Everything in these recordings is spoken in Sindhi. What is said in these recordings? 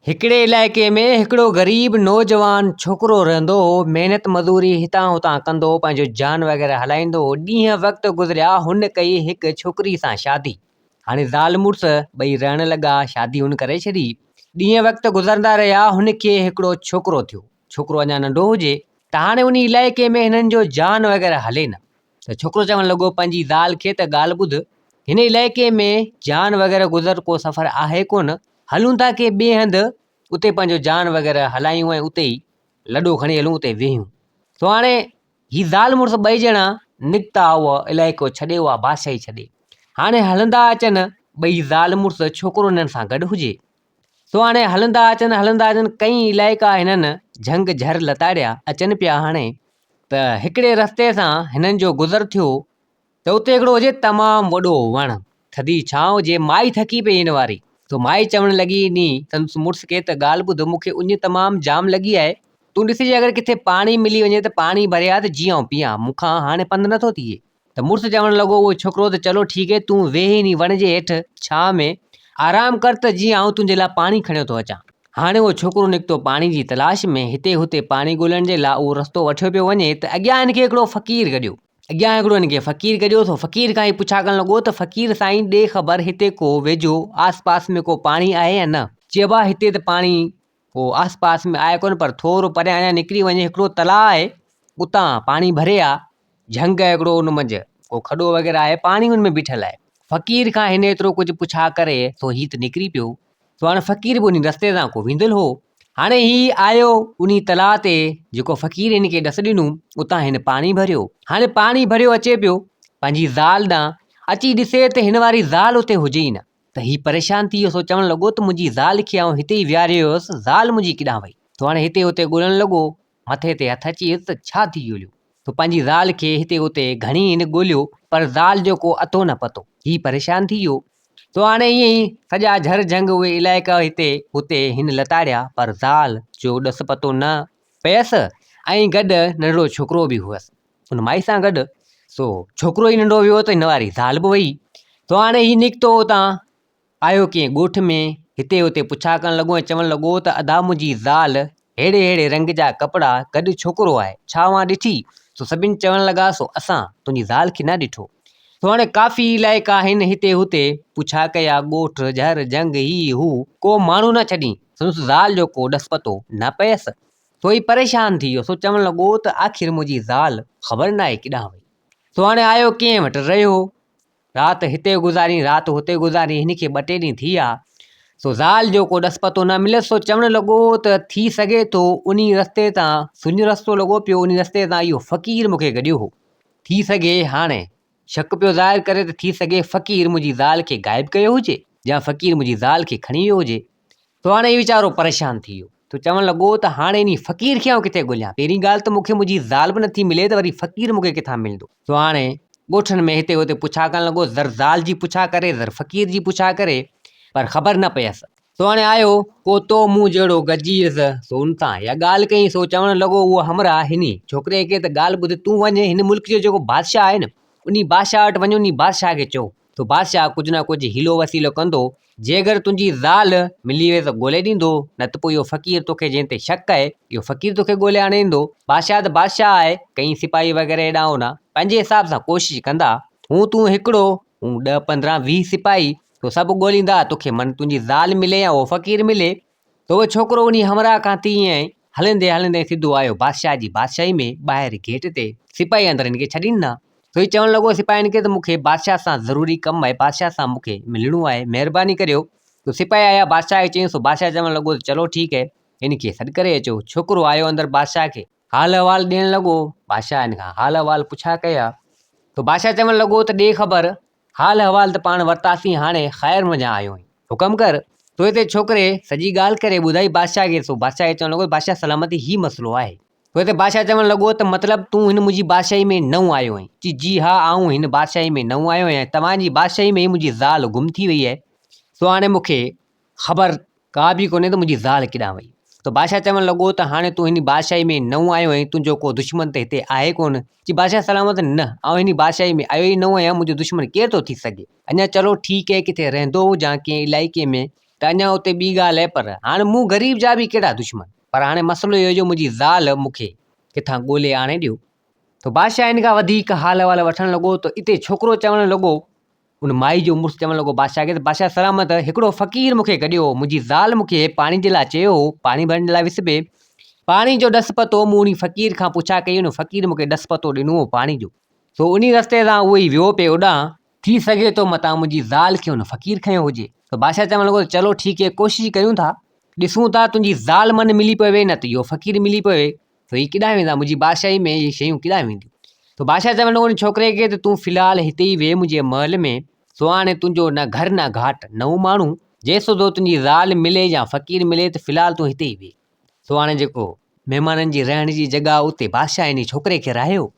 هڪڙي علائقي ۾ هڪڙو غريب نوجوان ڇوڪرو رهندو هو محنت مزوري هتان هتان ڪندو هو پنهنجو جان وغيره هلائيندو هو ڏينهن وقت گذريا هن ڪئي هڪ ڇوڪري سان شادي هاڻي زال مڙس ٻئي رهڻ لڳا شادي هن ڪري ڇڏي ڏينهن وقت گذرندا رهيا هن کي هڪڙو ڇوڪرو ٿيو ڇوڪرو اڃا ننڍو هجي ته هاڻي ان علائقي ۾ هنن جو جان وغيره هلي نه ته ڇوڪرو چوڻ لڳو پنهنجي زال کي ته ڳالهه ٻڌ هن علائقي ۾ جان وغيره گذر ڪو سفر آهي ڪونه هلون ٿا ڪي ٻئي هنڌ اتي پنهنجو جان وغيره هلايون ۽ اتي ئي لڏو کڻي هلون اتي ويهون سو هاڻي هي زال مڙس ٻئي ڄڻا نڪتا هئا علائقو ڇڏي اها بادشاهي ڇڏي هاڻي هلندا اچن ٻئي زال مڙس ڇوڪرو هنن سان گڏ هجي سو هاڻي هلندا اچن هلندا اچن ڪئي علائقا هنن جهنگ جهر لتاڙيا اچن پيا هاڻي ته هڪڙي رستي سان هنن جو گذر ٿيو ته اتي هڪڙو هجي تمام وڏو وڻ، ٿڌي ڇانو جي مائي ٿڪي پئي هن واري. سو مائي چوڻ لڳي ني سندس مڙس کي ته ڳالهه ٻڌ مون کي اڃ تمام جام لڳي آهي، تون ڏسجي اگر ڪٿي پاڻي ملي وڃي ته پاڻي ڀري آ ته جيئن آئون پيئان، مون کان هاڻي پنڌ نه ٿو ٿئي. ته مڙس چوڻ لڳو اهو ڇوڪرو ته چلو ٺيڪ هي تون ويهه انهي وڻ جي هيٺ ڇانو ۾ آرام ڪر ته جيئن آئون تنهنجي لاء پاڻي کڻيو ٿو اچان. هاڻي اهو ڇوڪرو نڪتو پاڻي جي تلاش ۾ هتي هتي پاڻي ڳولڻ جي لاء اهو رستو وٺيو پيو وڃي ته اڳيان هن کي هڪڙو فقير گڏيو. اڳيان هڪڙو هن کي فقير گڏيو ٿو فقير کان هي پڇا ڪرڻ لڳو ته فقير سائين ڏي خبر هتي ڪو ويجهو آس پاس ۾ ڪو پاڻي آهي يا نه چيو آهي هتي ته پاڻي ڪو آس پاس ۾ آهي ڪونه پر ٿورو پريان اڃان نڪري وڃي هڪڙو تلاء آهي اتان پاڻي ڀري آ جهنگ آهي هڪڙو ان منجهه ڪو کڏو وغيره آهي پاڻي ان ۾ بيٺل آهي فقير کان هن ايترو ڪجهه پڇا ڪري سو هيت نڪري پيو سو هاڻي فقير به انهي رستي تان ڪو ويندل هو هاڻي هي آيو انهي تلاء تي جيڪو فقير هن کي ڏس ڏنو اتان هن پاڻي ڀريو هاڻي پاڻي ڀريو اچي پيو پنهنجي زال ڏانهن اچي ڏسي ته هن واري زال اتي هجي ئي نه ته هي پريشان ٿي ويو سو چوڻ لڳو ته منهنجي زال کي آئون هتي ئي ويهاريو هيس زال منهنجي ڪيڏانهن وئي سو هاڻي هتي هتي ڳولڻ لڳو مٿي تي هٿ اچي ويس ته ڇا ٿي جوليو؟ تو پنهنجي زال کي هتي اتي گهڻي هن ڳوليو پر زال جو ڪو اتو نه پتو. هي پريشان ٿي ويو. سو هاڻي ائين ئي سڄا جهر جهنگ اهي علائقا هتي هتي هن لتاڙيا پر زال جو ڏس پتو نه پيس ۽ گڏ ننڍڙو ڇوڪرو به هئس ان مائي سان گڏ. سو ڇوڪرو ئي ننڍو ويو ته هن واري زال به وئي. سو هاڻي هي نڪتو اتان. آيو ڪيئن ڳوٺ ۾، هتي هتي پڇا ڪرڻ لڳو ۽ چوڻ لڳو ته ادا منهنجي زال ههڙي ههڙي رنگ جا ڪپڙا گڏ ڇوڪرو آهي، ڇا اوهان ڏٺي؟ سو سڀني چوڻ لڳا سو اسان تنهنجي زال کي نه ڏٺو. سو هاڻي ڪافي علائقا هن هتي هتي پڇا ڪيا ڳوٺ جهر جهنگ هي هو ڪو ماڻهو نه ڇڏين سندس زال جو ڪو ڏس پتو نه پيس سو هي پريشان ٿي ويو سو چوڻ لڳو ته آخر منهنجي زال خبر ناهي ڪيڏانهن وئي سو هاڻي آيو ڪيئن وٽ رهيو رات هتي گذارين، رات هتي گذارين، هن کي ٻه ٽي ڏينهن ٿي ويا، سو زال جو ڪو ڏس پتو نه مليس، سو چوڻ لڳو ته ٿي سگهي ٿو انهي رستي تان سڃو رستو لڳو پيو، انهي رستي تان اهو فقير مون کي گڏيو هو، ٿي سگهي هاڻي شڪ پيو ظاهر ڪري ته ٿي سگهي فقير منهنجي زال کي غائب ڪيو هجي يا فقير منهنجي زال کي کڻي ويو هجي. سو هاڻي ويچارو پريشان ٿي ويو. سو چوڻ لڳو ته هاڻي انهي فقير کي آئون ڪٿي ڳوليان؟ پهرين ڳالهه ته مون کي منهنجي زال به نٿي ملي ته وري فقير مون کي ڪٿان ملندو؟ سو هاڻي ڳوٺن ۾ هتي هتي پڇا ڪرڻ لڳو، زر زال جي پڇا ڪري، زر فقير جي پڇا ڪري، پر خبر نه پيس. سو هاڻي آيو ڪو تو مون جهڙو گجيس، سو ان سان اها ڳالهه ڪيائين. سو چوڻ لڳو اهو همراهه هني ڇوڪري کي ته ڳالهه ٻڌ، تون وڃ هن ملڪ جو جيڪو بادشاهه آهي نه، انهي بادشاهه وٽ وڃ، انهي بادشاهه کي چئو تو بادشاهه ڪجهه نه ڪجهه حيلو وسيلو ڪندو، جيڪر تنهنجي زال ملي وئي ته ڳولي ڏيندو، نه ته پوء اهو فقير توکي جنهن تي شڪ ڪئي، اهو فقير توکي ڳولي آڻي ڏيندو. بادشاهه ته بادشاهه آهي، ڪئين سپاهي وغيره هيڏانهن هوڏانهن پنهنجي حساب سان ڪوشش ڪندا. هون تون هڪڙو، هون ڏهه پندرهن ويهه سپاهي، سو سڀ ڳوليندا، توکي من تنهنجي زال ملي يا اهو فقير ملي، ته اهو ڇوڪرو انهيء همراهه کان تيئن ئي هلندي هلندي سڌو آيو بادشاهه جي بادشاهيء ۾ ٻاهر گيٽ تي سپاهي اندر هن کي ڇڏي ڏنا. سو هي چوڻ لڳو سپاهين کي ته مون کي بادشاهه سان ضروري ڪم آهي، بادشاهه سان مون کي ملڻو آهي، مهرباني ڪريو. سو سپاهي آيا بادشاهه کي چيائين، سو بادشاهه چوڻ لڳو ته چلو ٺيڪ هي، هن کي سڏ ڪري اچو. ڇوڪرو آيو اندر بادشاهه کي. حال احوال ڏيڻ لڳو، بادشاهه هن کان حال احوال پڇا ڪيا، سو بادشاهه چوڻ لڳو ته ڏي خبر حال احوال ته پاڻ ورتاسين، هاڻي خير منجهان آيو آهين. حڪم ڪر، سو هتي ڇوڪري سڄي ڳالهه ڪري ٻڌائي بادشاهه کي، سو بادشاهه کي چوڻ لڳو ته بادشاهه سلامتي هي مسئلو آهي. سو هتي بادشاهه چوڻ لڳو ته مطلب تون هن منهنجي بادشاهي ۾ نئون آيو آهين؟ چي، جي ها، آئون هن بادشاهي ۾ نئون آيو آهيان، توهان جي بادشاهي ۾ ئي منهنجي زال گم ٿي وئي آهي، سو هاڻي مون کي. خبر ڪا به ڪونهي ته منهنجي زال ڪيڏانهن وئي؟ ته بادشاهه چوڻ لڳو ته هاڻي تون هن بادشاهي ۾ نئون آيو آهين، تنهنجو ڪو دشمن ته هتي آهي ڪونه؟ چي بادشاهه سلامت، نه، آئون هن بادشاهي ۾ آيو ئي نئون آهيان، منهنجو دشمن ڪير ٿو ٿي سگهي؟ اڃا چلو ٺيڪ اهي ڪٿي رهندو هجان ڪنهن علائقي ۾ ته اڃا اتي ٻي ڳالهه اهي پر هاڻي مون غريب جا به ڪهڙا دشمن؟ پر هاڻي مسئلو اهو جو منهنجي زال مون کي ڪٿان ڳولهي آڻي ڏيو. ته بادشاهه هن کان وڌيڪ حال احوال وٺڻ لڳو ته اتي ڇوڪرو چوڻ لڳو ان مائي جو مڙس چوڻ لڳو بادشاهه کي ته بادشاهه سلامت هڪڙو فقير مون کي گڏيو هو منهنجي زال مون کي پاڻي جي لاء چيو هو پاڻي ڀرڻ لاء وس ۾ پاڻي جو ڏس پتو مون ان فقير کان پڇا ڪئي ان فقير مون کي ڏس پتو ڏنو هو پاڻي جو سو ان رستي تان اهو ئي ويو پئي اوڏانهن ٿي سگهي ٿو متان منهنجي زال کي ان فقير کنيو هجي ته بادشاهه چوڻ لڳو ته چلو ٺيڪ هي ڪوشش ڪريون ٿا ڏسون ٿا تنهنجي زال من ملي پوي نه ته اهو فقير ملي پوي تو هي ڪيڏانهن ويندا منهنجي بادشاهي ۾ هي شيون ڪيڏانهن وينديون تو بادشاهه چيو هن ڇوڪري کي ته تون في الحال هتي ئي ويهه منهنجي محل ۾ سو هاڻي تنهنجو نه گهر نه گهاٽ نه هو ماڻهو جنهن سوڌو تنهنجي زال ملي يا فقير ملي ته في الحال تون هتي ئي ويهه سو هاڻي جيڪو مهمانن جي رهڻ جي جڳهه اتي بادشاهه انهي ڇوڪري کي رهايو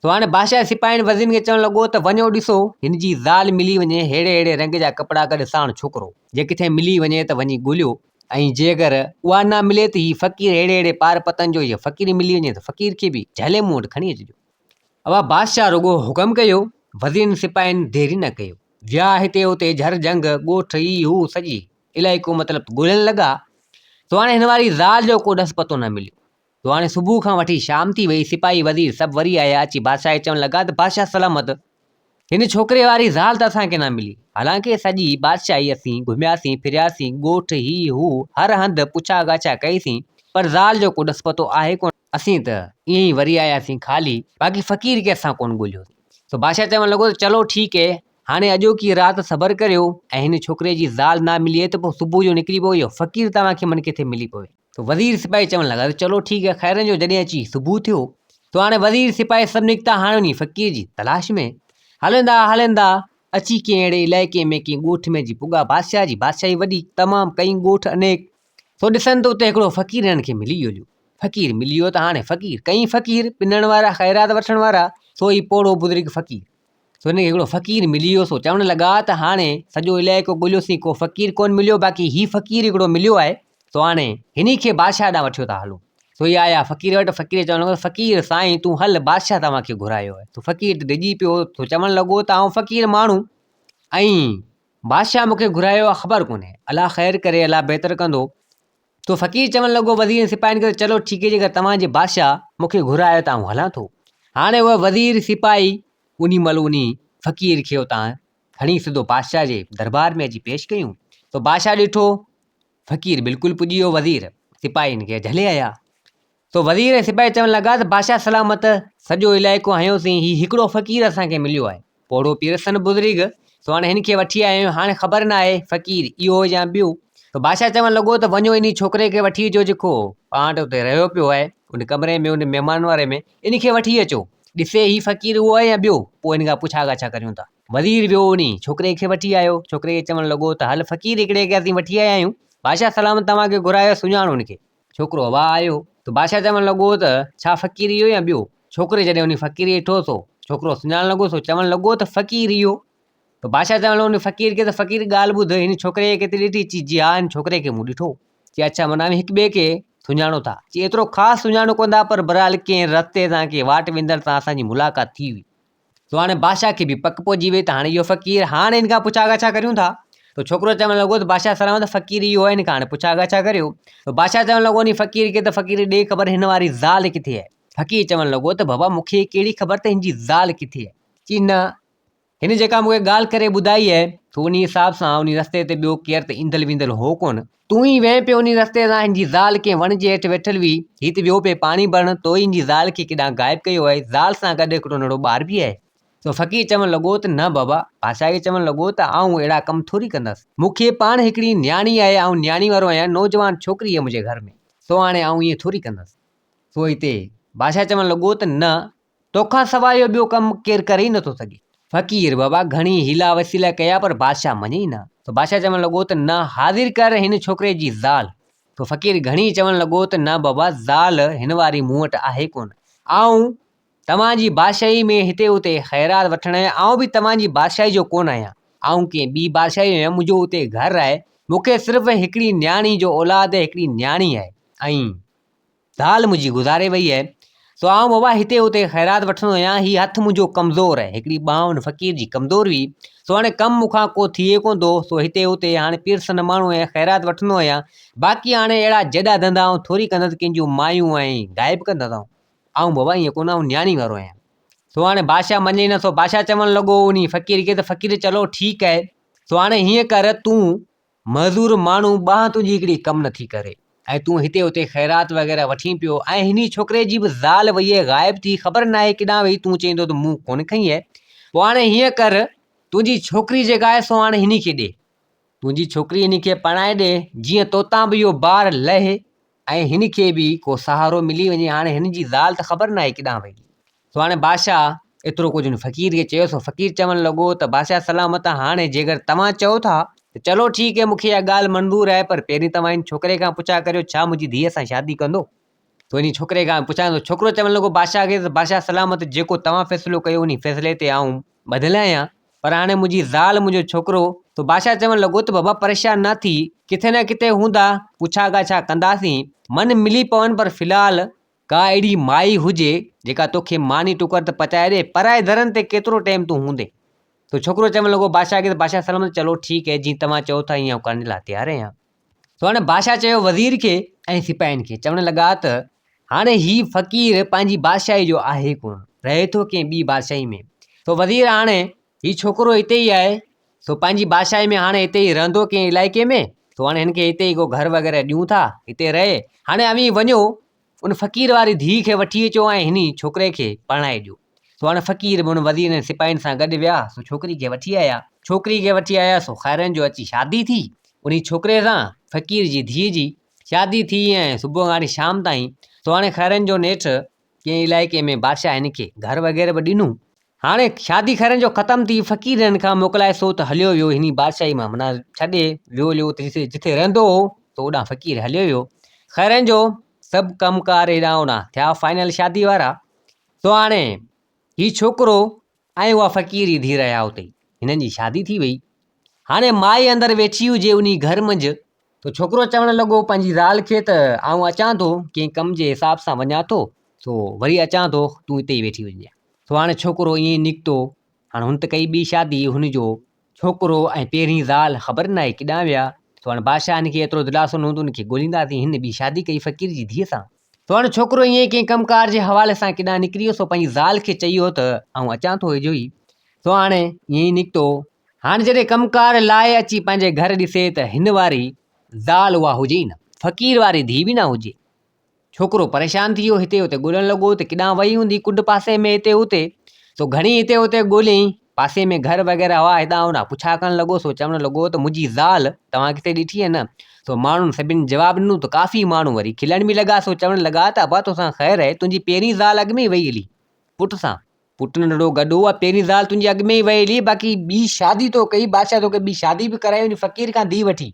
سو هاڻي بادشاهه سپاهين وزيرن کي چوڻ لڳو ته وڃو ڏسو هن جي زال ملي وڃي ههڙي ههڙي رنگ جا ڪپڙا گڏ ساڻ ڇوڪرو جي ڪٿي ملي وڃي ته وڃي ڳوليو ۽ جي اگر اها نه ملي ته هي فقير ههڙي ههڙي پار پتن جو هيء فقير ملي وڃي ته فقير کي به جهلي مون وٽ کڻي اچجو اها بادشاهه رڳو حڪم ڪيو وزيرن سپاهين ديري نه ڪيو ويا هتي هتي جهر جهنگ ڳوٺ هي هو سڄي علائقو مطلب ڳولڻ لڳا سو هاڻي هن واري زال جو ڪو ڏس پتو نه مليو سڀاڻي صبح کان وٺي شام ٿي ويئي، سپاهي وزير سڀ وري آيا، اچي بادشاهه کي چوڻ لڳا ته بادشاهه سلامت، هن ڇوڪري واري زال ته اسان کي نه ملي، حالانڪه سڄي بادشاهي اسين گهمياسين پھرياسين، ڳوٺ هي هو هر هنڌ پڇا ڳاڇا ڪئيسين، پر زال جو ڪو ڏس پتو آهي ڪونه، اسين ته ائين ئي وري آياسين خالي، باقي فقير کي اسان ڪونه ڳوليو، سو بادشاهه چوڻ لڳو ته چلو ٺيڪ هي، هاڻي اڄوڪي رات صبر ڪريو ۽ هن ڇوڪري جي زال نه ملي ته پوء صبح جو نڪري پويو، فقير توهان کي من ڪٿي ملي پوي. ته وزير سپاهي چوڻ لڳا ته چلو ٺيڪ آهي خيرن جو جڏهن اچي صبح ٿيو ته هاڻي وزير سپاهي سڀ نڪتا هاڻي انهيء فقير جي تلاش ۾، هلندا هلندا اچي ڪنهن اهڙي علائقي ۾ ڪنهن ڳوٺ ۾ جي پڳا بادشاهه جي بادشاهي وڏي تمام ڪئين ڳوٺ انيڪ سو ڏسن ته اتي هڪڙو فقير هنن کي ملي ويو فقير ملي ويو ته هاڻي فقير ڪئين فقير پنڻ وارا خيرات وٺڻ وارا سو ئي پوڙهو بزرگ فقير. سو هن کي هڪڙو فقير ملي ويو سو چوڻ لڳا ته هاڻي سڄو علائقو ڳوليوسين ڪو فقير ڪونهي مليو باقي هي فقير هڪڙو مليو آهي سو هاڻي هن کي بادشاهه ڏانهن وٺيو ٿا هلون سو هي آيا فقير وٽ فقير چوڻ لڳو فقير سائين تون هل بادشاهه توهان کي گهرايو آهي سو فقير ته ڊڄي پيو سو چوڻ لڳو ته آئون فقير ماڻهو ۽ بادشاهه مون کي گهرايو آهي خبر ڪونهي الا خير ڪري الا بهتر ڪندو سو فقير چوڻ لڳو وزيرن ۽ سپاهين کي ته چلو ٺيڪ آهي جيڪڏهن توهان جي بادشاهه مون کي گهرايو آهي ته آئون هلان ٿو. هاڻي اهي وزير سپاهي انهي مهل انهي فقير کي اتان کڻي سڌو بادشاهه جي دربار ۾ اچي پيش ڪيون. سو بادشاهه ڏٺو فقير بلڪل پڄي ويو وزير سپاهين کي جهلي آيا. سو وزير ۽ سپاهي چوڻ لڳا ته بادشاهه سلامت، سڄو علائقو هنيوسين، هي هڪڙو فقير اسان کي مليو آهي. پوڙهو پير سن بزرگ، سو هاڻي هن کي وٺي آيا آهيون، هاڻي خبر نه آهي فقير اهو يا ٻيو. سو بادشاهه چوڻ لڳو ته وڃو انهي ڇوڪري کي وٺي اچو جيڪو پاڻ وٽ اتي رهيو پيو آهي، ان ڪمري ۾ ان مهمان واري ۾ ان کي وٺي اچو، ڏسي هي فقير اهو آهي يا ٻيو، پوء هن کان پڇا ڳاڇا ڪريون ٿا. وزير ويو انهي ڇوڪري کي وٺي آيو، ڇوڪري کي چوڻ لڳو ته هل فقير هڪڙي کي اسين وٺي آيا آهيون، بادشاهه سلامت توهان کي گهرايو سڃاڻو هن کي، ڇوڪرو اڀا آيو ته بادشاهه چوڻ لڳو ته ڇا فقير اهو يا ٻيو؟ ڇوڪري جڏهن ان فقير کي ڏٺو سو ڇوڪرو سڃاڻڻ لڳو سو چوڻ لڳو ته فقير اهو ته بادشاهه چوڻ لڳو ان فقير کي ته فقير ڳالهه ٻڌ هن ڇوڪري کي ڪٿي ڏٺي؟ چي جي ها هن ڇوڪري کي مون ڏٺو چي اڇا معنيٰ اوهين هڪ ٻئي کي سڃاڻو ٿا؟ چي ايترو خاص سڃاڻو ڪونه ٿا پر بهرحال ڪنهن رستي تان ڪنهن واٽ ويندڙ سان اسان جي ملاقات ٿي هئي. سو هاڻي بادشاهه کي به پڪ پئجي وئي ته هاڻي اهو فقير هاڻ هن کان پڇا ڳاڇا ڪريون ٿا ته ڇوڪرو چوڻ لڳو ته بادشاهه سلامت فقير اهو آهي هن کان هاڻي پڇا ڳاڇا ڪريو ته بادشاهه چوڻ لڳو ان فقير کي ته فقير ڏي خبر هن واري زال ڪٿي آهي فقير چوڻ لڳو ته بابا مون کي ڪهڙي خبر ته هن جي زال ڪٿي آهي چي نه هن جيڪا مون کي ڳالهه ڪري ٻڌائي آهي سو ان حساب سان ان رستي تي ٻيو ڪير ته ايندل ويندل هو ڪونه تون ئي وئين پيو انهي رستي تان هن جي زال ڪنهن وڻ جي هيٺ ويٺل هئي هي ته ويو پئي پاڻي ڀرڻ تو ئي هن جي زال کي ڪيڏانهن غائب ڪيو آهي زال سان گڏ هڪڙو ننڍڙو ٻار به آهي سو فقير چوڻ لڳو ته نه بابا پاشا کي چوڻ لڳو ته آئون اهڙا ڪم ٿوري ڪندس مون کي پاڻ هڪڙي نياڻي آهي آئون نياڻي وارو آهيان نوجوان ڇوڪري آهي منهنجي گهر ۾ سو هاڻي آئون ائين ٿوري ڪندس سو هتي بادشاهه چوڻ لڳو ته نه توکان سواء اهو ٻيو ڪم ڪير ڪري ئي نٿو سگهي. فقير، بابا گهڻي حيلا وسيلا ڪيا پر بادشاهه مڃي ئي نه ٿو. بادشاهه چوڻ لڳو ته نه حاضر ڪر هن ڇوڪري جي زال. سو فقير گهڻي چوڻ لڳو ته نه بابا زال هن واري مون وٽ آهي ڪونه. آئون توهان جي بادشاهي ۾ هتي اتي خيرات وٺڻ آيو آهيان. آئون به توهان جي بادشاهي جو ڪونه آهيان. آئون ڪنهن ٻي بادشاهي جو آهيان. منهنجو اتي گهر آهي. مون کي صرف هڪڙي نياڻي جو اولاد هڪڙي نياڻي آهي ۽ ذال منهنجي گذاري وئي اهي، سو آئون ووا هتي هتي خيرات وٺندو هيان، هي هٿ منهنجو ڪمزور اهي، هڪڙي ٻانهن ان فقير جي ڪمزور هئي، سو هاڻي ڪم مون کان ڪو ٿئي ڪونه ٿو، سو هتي هتي هاڻي پيرسن ماڻهو هيان خيرات وٺندو هيان، باقي هاڻي اهڙا جيڏا ڌنڌا آئون ٿوري ڪندس، ڪنهن جون مايون ۽ گاهي به ڪندس آئون، آئون ووا ائين ڪونه آئون نياڻي وارو آهيان. سو هاڻي بادشاهه مڃي نه سو بادشاهه چوڻ لڳو انهي فقير کي ته فقير چلو ٺيڪ اهي، سو هاڻي هيئن ڪر تون معذور ماڻهو ٻانهن تنهنجي هڪڙي ڪم نه ٿي ڪري ۽ تون هتي هتي خيرات وغيره وٺين پيو ۽ هني ڇوڪري جي به زال ويئي غائب ٿي خبر ناهي ڪيڏانهن وئي تون چئيندو ته مون ڪونه کنئي آهي پوء هاڻي هيئن ڪر تنهنجي ڇوڪري جيڪا آهي سو هاڻي هني کي ڏي تنهنجي ڇوڪري هني کي پرڻائي ڏي جيئن توتان به اهو بار لهي ۽ هن کي به ڪو سهارو ملي وڃي هاڻي هن جي زال ته خبر ناهي ڪيڏانهن وئي سو هاڻي بادشاهه ايترو ڪجهه هن فقير کي چيو سو فقير چوڻ لڳو ته بادشاهه سلامت آ هاڻي جيڪر توهان چئو ٿا ته چلو ٺيڪ هي مونکي اها ڳالهه منظور آهي پر پهرين توهان هن ڇوڪري کان پڇا ڪريو ڇا منهنجي ڌيء سان شادي ڪندو سو هن ڇوڪري کان پڇا ته ڇوڪرو چوڻ لڳو بادشاهه کي ته بادشاهه سلامت جيڪو توهان فيصلو ڪيو انهي فيصلي تي آئون ٻڌل آهيان پر هاڻي منهنجي زال منهنجو ڇوڪرو سو بادشاهه چوڻ لڳو ته بابا پريشان نه ٿي ڪٿي نه ڪٿي هوندا پڇا ڳاڇا ڪنداسين من ملي پون پر في الحال ڪا اهڙي مائي هجي جيڪا توکي ماني ٽڪر ته پچائي ڏي پرائي درن تي ڪيترو ٽيم تون هوندين سو ڇوڪرو چوڻ لڳو بادشاهه کي ته بادشاهه سلامت چلو ٺيڪ هي جيئن توهان چئو ٿا هيئن ڪرڻ جي لاء تيار آهيان سو هاڻي بادشاهه چيو وزير کي ۽ سپاهين کي چوڻ لڳا ته هاڻي هي فقير پنهنجي بادشاهي جو آهي ڪونه رهي ٿو ڪنهن ٻي بادشاهي ۾ سو وزير هاڻي هي ڇوڪرو هتي ئي آهي سو پنهنجي بادشاهي ۾ هاڻي هتي ئي رهندو ڪنهن علائقي ۾ سو هاڻي هن کي هتي ئي گهر وغيره ڏيون ٿا هتي رهي هاڻي اوهين وڃو ان فقير واري ڌيء کي وٺي اچو ۽ هن ڇوڪري کي پرڻائي ڏيو سو هاڻي فقير به هن وزيرن ۽ سپاهين سان گڏ ويا سو ڇوڪري کي وٺي آيا ڇوڪري کي وٺي آيا سو خيرن جو اچي شادي ٿي ان ڇوڪري سان فقير جي ڌيء جي شادي ٿي ۽ صبح کان وٺي شام تائين سو هاڻي خيرن جو نيٺ ڪنهن علائقي ۾ بادشاهه هن کي گهر وغيره به ڏنو. هاڻي شادي خيرن جو ختم ٿي فقير هن کان موڪلائي سو ته هليو ويو هني بادشاهي مان معنيٰ ڇڏي ويو ليو ته جتي جتي رهندو هو سو اوڏانهن فقير هليو ويو خيرن جو سڀ ڪم ڪار هيڏانهن اوڏانهن ٿيا فائنل شادي وارا سو هاڻي هي ڇوڪرو ۽ اها فقير جي ڌيء رهيا اتي ئي. هنن جي شادي ٿي ويئي. هاڻي مائي اندر ويٺي هجي انهي گهر منجهه. سو ڇوڪرو چوڻ لڳو پنهنجي زال کي ته آئون اچان ٿو ڪنهن ڪم جي حساب سان وڃان ٿو سو وري اچان ٿو تون اتي ئي ويٺي هجنجانء. سو هاڻي ڇوڪرو ائين ئي نڪتو. هاڻي هن ته ڪئي ٻي شادي هن جو ڇوڪرو ۽ پهرين زال خبر ناهي ڪيڏانهن ويا. سوڻ بادشاهه هن کي ايترو دلاسو ڏنو ته ان کي ڳولينداسين، هن ٻي شادي ڪئي فقير جي ڌيء سان. سوڻ ڇوڪرو ائين ڪنهن ڪم ڪار جي حوالي سان ڪيڏانهن نڪري ويو، سو پنهنجي زال کي چئي ويو ته آئون اچان ٿو ويجهو ئي. سو هاڻ ائين ئي نڪتو. هاڻ جڏهن ڪم ڪار لاء اچي پنهنجي گهر ڏسي ته هن واري زال اها هجي ئي نه، فقير واري ڌيء به نه هجي. ڇوڪرو پريشان ٿي ويو هتي هتي ڳولڻ لڳو ته ڪيڏانهن وئي هوندي ڪنڊ پاسي ۾ هتي هتي سو گهڻي هتي هتي ڳوليائين پاسي ۾ گهر وغيره هئا هيڏانهن هوڏانهن پڇا ڪرڻ لڳو سو چوڻ لڳو ته منهنجي زال توهان ڪٿي ڏٺي هئي نه سو ماڻهن سڀني جواب ڏنو ته ڪافي ماڻهو وري کلڻ به لڳا سو چوڻ لڳا ته ابا توسان خير آهي تنهنجي پهرين زال اڳ ۾ وئي هلي پٽ سان پٽ ننڍڙو گڏهو آ، پهرين زال تنهنجي اڳ ۾ ئي ويلي، باقي ٻي شادي تو ڪئي، بادشاهه توکي ٻي شادي به ڪرائي ان فقير کان ڌي وٺي.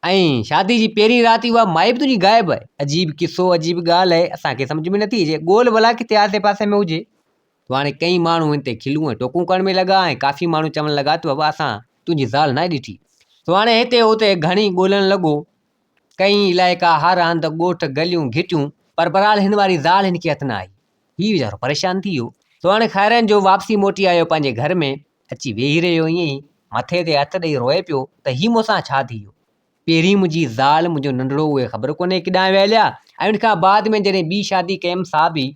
۽ شادي جي پهرين رات ئي اها مائي به تنهنجي غائب آهي. عجيب قصو، عجيب ڳالهه آهي، اسان کي سمجهه ۾ نٿي اچي، ڳول ڀلا ڪٿي آسي پاسي ۾ هجي. تو هاڻي ڪئين ماڻهو هن تي کلون ۽ ٽوڪون ڪرڻ ۾ لڳا ۽ ڪافي ماڻهو چوڻ لڳا ته بابا اسان تنهنجي زال ناهي ڏٺي. تو هاڻي هتي هتي گهڻي ڳولڻ لڳو. ڪئين علائقا هر هنڌ ڳوٺ گليون گهٽيون پر بهرحال هن واري زال هن کي هٿ نه آئي هي ويچارو پريشان ٿي ويو سو هاڻي خيرن جو واپسي موٽي آيو پنهنجي گهر ۾ اچي ويهي رهيو ائين ئي مٿي تي هٿ ڏئي روئي پيو ته هي مون سان ڇا ٿي ويو پهرين منهنجي زال منهنجو ننڍڙو اهي خبر ڪونهي ڪيڏانهن ويهليا ۽ ان کان بعد ۾ جڏهن ٻي شادي ڪيم سا به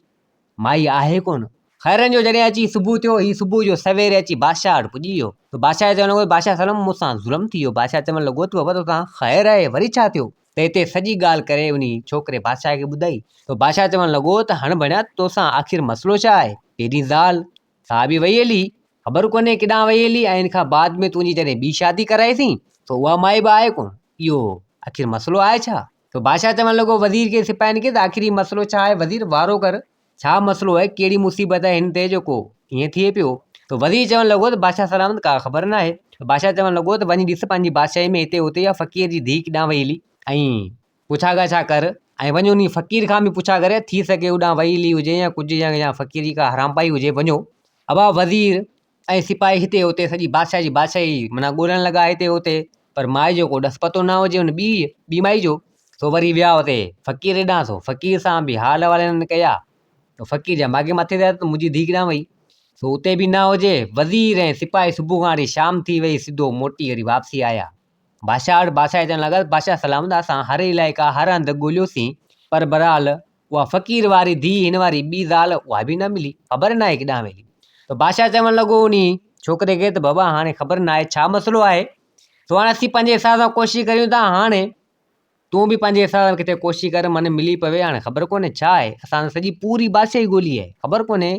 مائي آهي ڪونه. خيرن جو جڏهن اچي صبح ٿيو هي صبح جو سويري اچي بادشاهه وٽ پڄي ويو ته بادشاهه چوڻ لڳو بادشاهه سلم مون سان ظلم ٿي ويو بادشاهه چوڻ لڳو ته بابا توسان خير آهي وري ڇا ٿيو ته هتي سڄي ڳالهه ڪري انهي ڇوڪري بادشاهه کي ٻڌائي ته بادشاهه چوڻ لڳو ته هڻ ڀڻيا توسان آخر مسئلو ڇا آهي تنهنجي زال سا به وئي هلي خبر ڪونهي ڪيڏانهن وئي هلي ۽ ان کان بعد ۾ تنهنجي جڏهن ٻي شادي ڪرائي سين ته اها مائي به آهي ڪونه اهو آخر مسئلو آهي ڇا ته بادشاهه چوڻ لڳو وزير کي سپاهين کي ته آخر هي مسئلو ڇا آهي وزير وارو ڪر ڇا مسئلو آهي ڪهڙي مصيبت آهي هن تي جو ڪو هيئن ٿئي پيو ته وزير چوڻ لڳو ته بادشاهه سلامت ڪا خبر نه آهي بادشاهه چوڻ لڳو ته وڃي ڏس پنهنجي بادشاهي ۾ هتي هتي اها فقير جي ڌيء ڪيڏانهن وئي هلي ۽ پڇا ڳاڇا ڪر ۽ وڃي انهي فقير کان به پڇا ڪر ٿي سگهي هوڏانهن وئي هلي هجي يا ڪجهه يا فقير جي ڪا حرامپائي هجي وڃو ابا وزير ۽ سپاهي هتي هتي سڄي بادشاهه جي بادشاهي معنيٰ ڳولڻ لڳا هتي هتي پر مائي جو ڪو ڏس پتو نه هجي ان ٻيء ٻي مائي جو سو وري ويا هتي فقير ڏانهن سو فقير سان به حال احوال هنن ڪيا سو فقير جا ماڳهين مٿي ٿيا ته منهنجي ڌيء ڪيڏانهن وئي سو اتي به نه هجي وزير ۽ سپاهي صبح کان وٺي شام ٿي وئي سڌو موٽي وري واپسي آيا. بادشاهه وٽ بادشاهه اچڻ لڳس، بادشاهه سلام داد سان هر علائقا هر هنڌ ڳوليوسين، پر برحال اها فقير واري ڌيء هن واري ٻي زال اها به نه ملي، خبر ناهي ڪيڏانهن ويلي. ته بادشاهه چوڻ لڳو انهيء ڇوڪري کي ته بابا هاڻي خبر ناهي ڇا مسئلو آهي، سو هاڻي اسين پنهنجي حساب سان ڪوشش ڪريون ٿا، هاڻي تون به پنهنجي حساب سان ڪٿي ڪوشش ڪر من ملي پوي، هاڻي خبر ڪونهي ڇا آهي، اسان ته سڄي پوري بادشاهي ڳولي آهي، خبر ڪونهي.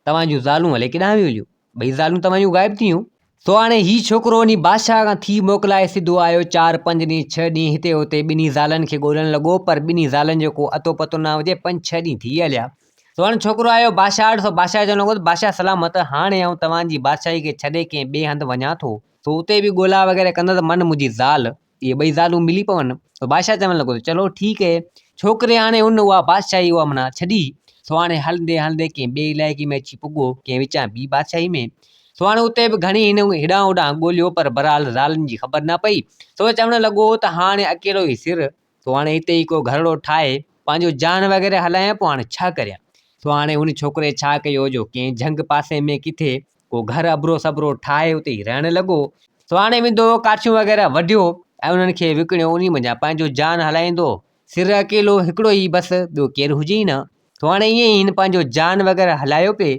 توهان جون زالون الي ڪيڏانهن ويون هليون؟ ٻئي زالون توهان جون غائب ٿيون. سو هاڻي هي ڇوڪرو انهي بادشاهه کان ٿي موڪلائي سڌو آيو، چار پنج ڏينهن ڇهه ڏينهن هتي هتي ٻنهي زالن کي ڳولڻ لڳو، پر ٻنهي زالن جو ڪو اتو پتو نه هجي، پنج ڇهه ڏينهن ٿي هليا. سو هاڻي ڇوڪرو آيو بادشاهه وٽ، سو بادشاهه چوڻ لڳو ته بادشاهه سلامت، هاڻي آئون توهان جي بادشاهي کي ڇڏي ڪنهن ٻئي هنڌ وڃان ٿو، سو اتي به ڳولا وغيره ڪندس، من منهنجي زال اهي ٻئي زالون ملي پون ته بادشاهه چوڻ لڳو ته چلو ٺيڪ هي ڇوڪري هاڻي ان اها بادشاهي اها منا ڇڏي سو هاڻي هلندي هلندي ڪنهن ٻئي علائقي ۾ اچي پڳو ڪنهن وچان ٻي بادشاهي ۾ سو هاڻي اتي به گهڻي هن هيڏانهن هوڏانهن ڳوليو پر بهرحال زالن جي خبر نه پئي سو چوڻ لڳو ته هاڻي اڪيلو هي سر سو هاڻي هتي ئي ڪو گهرڙو ٺاهي پنهنجو جان وغيره هلايان پوء هاڻي ڇا ڪريان سو هاڻي هن ڇوڪري ڇا ڪيو جو ڪنهن جهنگ پاسي ۾ ڪٿي ڪو گهر ابرو سبرو ٺاهي اتي ئي رهڻ لڳو سواڻي ويندو هو ڪاٺيون وغيره وڍيو ۽ انهن کي وڪڻيو انهي منجهان پنهنجو جان هلائيندو هو سر اڪيلو هڪڙو ئي بس ٻيو ڪير هجي ئي نه سواڻي ائين ئي هن پنهنجو جان وغيره هلايو پئي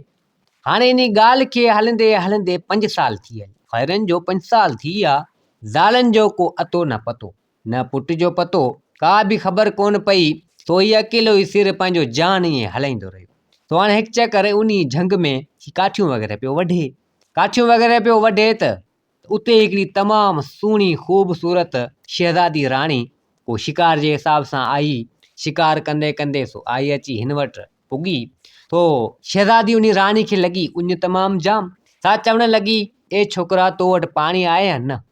هاڻي انهي ڳالهه کي هلندي هلندي پنج سال ٿي ويا خيرن جو پنج سال ٿي ويا زالن جو ڪو اتو نه پتو نه پٽ جو پتو ڪا به خبر ڪونه پئي، سو هي اڪيلو ئي سر پنهنجو جان ائين هلائيندو رهيو. سو هاڻي هڪ چڪر انهي جهنگ ۾ هي ڪاٺيون وغيره پيو وڍي. ڪاٺيون وغيره پيو وڍي ته اتي هڪڙي تمام سهڻي خوبصورت شهزادي راڻي ڪو شڪار جي حساب سان آئي. شڪار ڪندي ڪندي سو آئي اچي هن وٽ پڳي. سو شهزادي انهي راڻي کي لڳي اڃ تمام جام. سا چوڻ لڳي، اي ڇوڪرا تو وٽ پاڻي آهي يا نه؟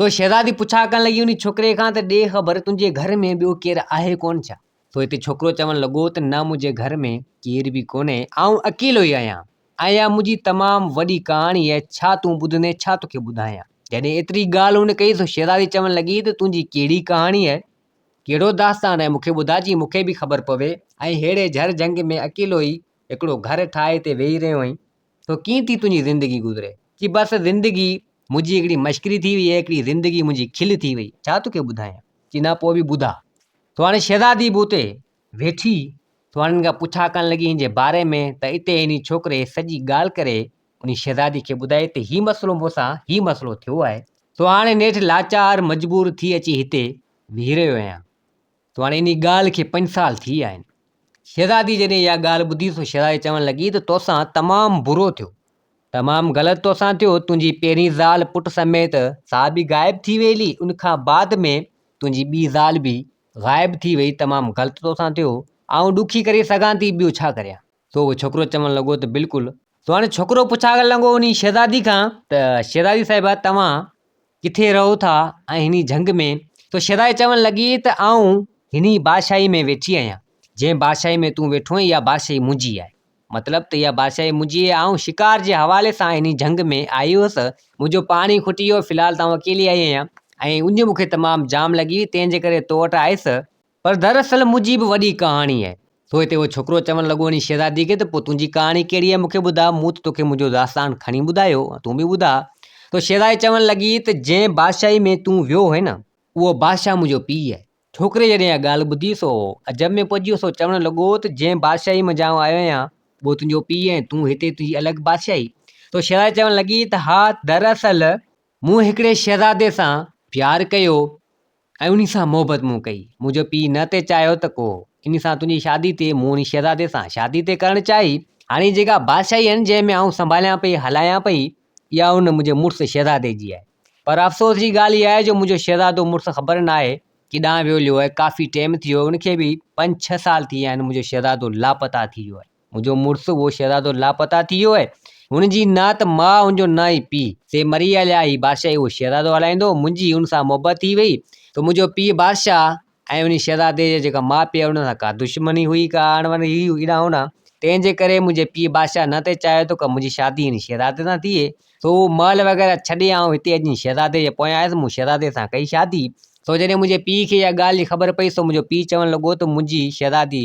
سو شهزادي پڇا ڪرڻ لڳي انهي ڇوڪري کان ته ڏي خبر تنهنجي گهر ۾ ٻيو ڪير آهي ڪونه ڇا؟ سو هتي ڇوڪرو چوڻ لڳو ته نه منهنجي گهر ۾ ڪير به ڪونهي آئون اڪيلو ئي آهيان ۽ اها منهنجي تمام وڏي ڪهاڻي آهي ڇا تون ٻڌندين ڇا توکي ٻڌايان جڏهن ايتري ڳالهه هن ڪئي سو شهزادي چوڻ لڳي ته تنهنجي ڪهڙي ڪهاڻي آهي ڪهڙو داستان آهي مونکي ٻڌاء جيئن مونکي به خبر پوي ۽ ههڙي جهر جهنگ ۾ اڪيلو ئي هڪڙو گهر ٺاهي تي ويهي رهيو آهين تو ڪيئن ٿي تنهنجي زندگي گذري. چي بس زندگي منهنجي هڪڙي مشڪري ٿي وئي هڪڙي زندگي منهنجي کل ٿي وئي ڇا توکي ٻڌايان. چي نه پوء به ٻڌاء. تو هاڻي شهزادي به اتي ويٺي تو هاڻي هن کان پڇا ڪرڻ لڳي هن جي باري ۾ ته اتي هن ڇوڪري سڄي ڳالهه ڪري انهي شهزادي کي ٻڌائي ته هي مسئلو مون سان هي مسئلو ٿيو آهي. تو هاڻي نيٺ لاچار مجبور ٿي اچي هتي ويهي رهيو آهيان. تو هاڻي انهي ڳالهه کي پنج سال ٿي ويا آهن. شهزادي جڏهن اها ڳالهه ٻڌي سو شهزادي چوڻ لڳي ته توسان تمام برو ٿيو. تمام غلط توسان ٿيو. تنهنجي پهرين زال پٽ سميت سا به غائب ٿي ويئي هلي. ان کان بعد ۾ تنهنجي ٻي زال به غائب ٿي ويئي. تمام غلط توسان ٿيو. آئون ڏکي ڪري سگهان ٿي ٻيو ڇا ڪريان. سو اهو ڇوڪرو چوڻ لڳو ته بلڪل. سو هاڻي ڇوڪرو پڇاڳڻ لڳو انهي شهزادي کان ته شهزادي صاحبه توهان ڪٿي رهو ٿا ۽ هني جهنگ ۾؟ سو شهزادي چوڻ لڳي ته آئون هني بادشاهي ۾ ويٺي آهيان، جنهن بادشاهي ۾ تون ويٺو آهين اها بادشاهي منهنجي آهي. مطلب ته اها بادشاهي منهنجي آهي آئون شڪار جي حوالي سان هني جهنگ ۾ آئي هيس منهنجو پاڻي کٽي ويو في الحال ته آئون اڪيلي آئي آهيان ۽ اڃ مون کي تمام جام لڳي هئي تنهن جي ڪري تو وٽ آئس پر در اصل منهنجي به وڏي ڪهاڻي آهي. سو هتي اهو ڇوڪرو چوڻ لڳو وڃي شهزادي کي ته پوء تنهنجي ڪهاڻي ڪهڙي آهي مون کي ٻڌاء، مون ته توکي منهنجو داستان کڻي ٻڌايو، تون به ٻڌاء. سو شهزادي چوڻ لڳي ته جنهن بادشاهي ۾ تون ويو هئين نه، اهو بادشاهه منهنجو پيء آهي. ڇوڪري جڏهن اها ڳالهه ٻڌي سو عجب ۾ پئجي ويو، سو چوڻ لڳو ته جنهن بادشاهي منجهان آئون آهيان، اهو تنهنجو پيء آهي، تون هتي تنهنجي الڳ بادشاهي. سو شهزادي چوڻ لڳي ته ها در اصل مون هڪڙي شهزادي سان پيار ڪيو، ۽ انهي سان محبت مون ڪئي. منهنجو پيء نه تي چاهيو ته ڪو انهي سان تنهنجي شادي تي مون انهي شهزادي سان شادي تي ڪرڻ چاهي. هاڻي جيڪا بادشاهي آهن جنهن ۾ آئون سنڀاليان پئي هلايان پئي اها ان منهنجي مڙس شهزادي جي آهي پر افسوس جي ڳالهه اها آهي جو منهنجو شهزادو مڙس خبر نه آهي ڪيڏانهن ويو ليو آهي ڪافي ٽيم ٿي ويو آهي ان کي به پنج ڇهه سال ٿي ويا آهن منهنجو شهزادو لاپتا ٿي ويو آهي. منهنجو مڙس اهو شهزادو لاپتا ٿي ويو آهي. هن جي نه ته ماء هن جو نه ئي پيء. سي مري هليا. هي بادشاهي اهو شهزادو هلائيندو. منهنجي هن سان محبت ٿي وئي. سو منهنجو پيء بادشاهه ۽ انهي شهزادي جي جيڪا ماء پيء هئي انهن سان ڪا دشمني هئي ڪا اڻبڻ هئي ايڏا هونئا تنهن جي ڪري منهنجي پيء بادشاهه نه ته چاهيو ته ڪا منهنجي شادي انهي شهزادي سان ٿئي. سو اهو محل وغيره ڇڏي آئون هتي اڄ انهي شهزادي جي پويان آيس. مون شهزادي سان ڪئي شادي. سو جڏهن منهنجي پيء کي اها ڳالهه جي خبر پئي سو منهنجو پيء چوڻ لڳو ته منهنجي شهزادي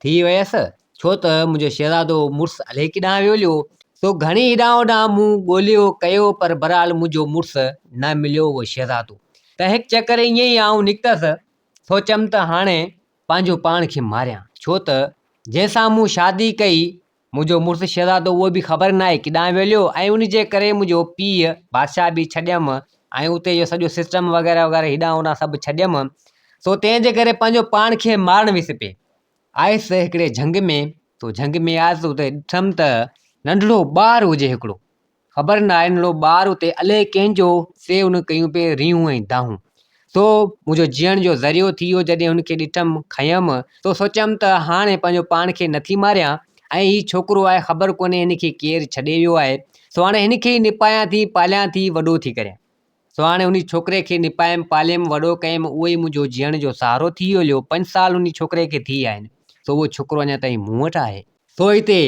ٿي ويس، ڇو ته منهنجو شهزادو مڙس عليڪي ڏانهن ويوليو، سو گهڻي هيڏانهن هوڏانهن مون ڳوليو ڪيو پر بهرحال منهنجو مڙس نه مليو اهو شهزادو ته هڪ چڪر ائين ئي آئون نڪتس، سوچيم ته هاڻي پنهنجو پاڻ کي ماريان، ڇو ته جنهن سان مون شادي ڪئي منهنجو مڙس شهزادو اهو به خبر ناهي ڪيڏانهن ويليو ۽ ان جي ڪري منهنجو پيء بادشاهه به ڇڏيم ۽ اتي جو سڄو سسٽم وغيره وغيره هيڏانهن هوڏانهن سڀ ڇڏيم سو تنهن جي ڪري پنهنجو پاڻ کي مارڻ ويس پئي آيس هڪڙي جهنگ ۾ تو جهنگ ۾ آيس اتي ڏٺم ته ننڍڙو ٻار هجي هڪڙو خبر ناهي ننڍڙو ٻار اتي الئي ڪنهن جو. سي هن ڪيون پئي ريهون ۽ دانهون. سو منهنجو جيئڻ جو ذريعو ٿي ويو جڏهن هن کي ڏٺم کنيم سو سوچيم ته هاڻي پنهنجو پاڻ کي نه ٿي ماريان ۽ هي ڇوڪرو آهي خبر ڪونهي هن کي ڪير ڇڏي ويو آهي سو هاڻي هن کي ئي نپايان ٿي پاليان ٿي وڏو ٿي ڪريان. سو هاڻي انهي ڇوڪري کي نپايم، پاليم، وڏو ڪيم، اهو ئي منهنجو جيئڻ جو سهارو ٿي ويو، ليو، پنج سال انهي ڇوڪري کي ٿي ويا آهن، سو اهو ڇوڪرو اڃا تائين مون وٽ آهي. سو هتي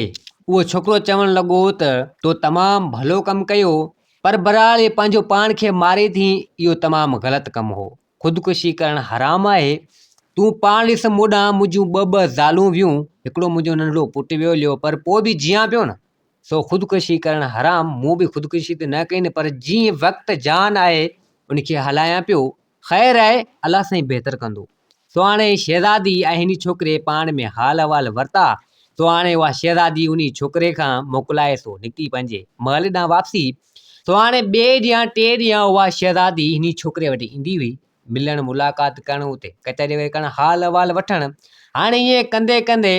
اهو ڇوڪرو چوڻ لڳو ته، تو تمام ڀلو ڪم ڪيو، پر بهرحال هي پنهنجو پاڻ کي ماري ٿي، اهو تمام غلط ڪم هو. خودڪشي ڪرڻ حرام آهي. تون پاڻ ڏس مون ڏانهن منهنجون ٻه ٻه زالون ويون، هڪڙو منهنجو ننڍڙو پٽ ويو ليو پر پوء به جيان پيو نه، سو خودڪشي ڪرڻ حرام، مون به خودڪشي ته نه ڪئي نه پر جيئن وقت جان آهي ان کي هلايان پيو، خير آهي الله سائين بهتر ڪندو. سو هاڻي شهزادي ۽ هني ڇوڪري پاڻ ۾ حال احوال ورتا، سو هاڻي اها شهزادي انهي ڇوڪري کان موڪلائي سو نڪتي پنهنجي محل ڏانهن واپسي سو هاڻي ٻئي ڏينهن ٽئي ڏينهن اها شهزادي انهي ڇوڪري وٽ ايندي هئي ملڻ ملاقات ڪرڻ اتي ڪچهري وچهري ڪرڻ حال احوال وٺڻ هاڻي ائين ڪندي ڪندي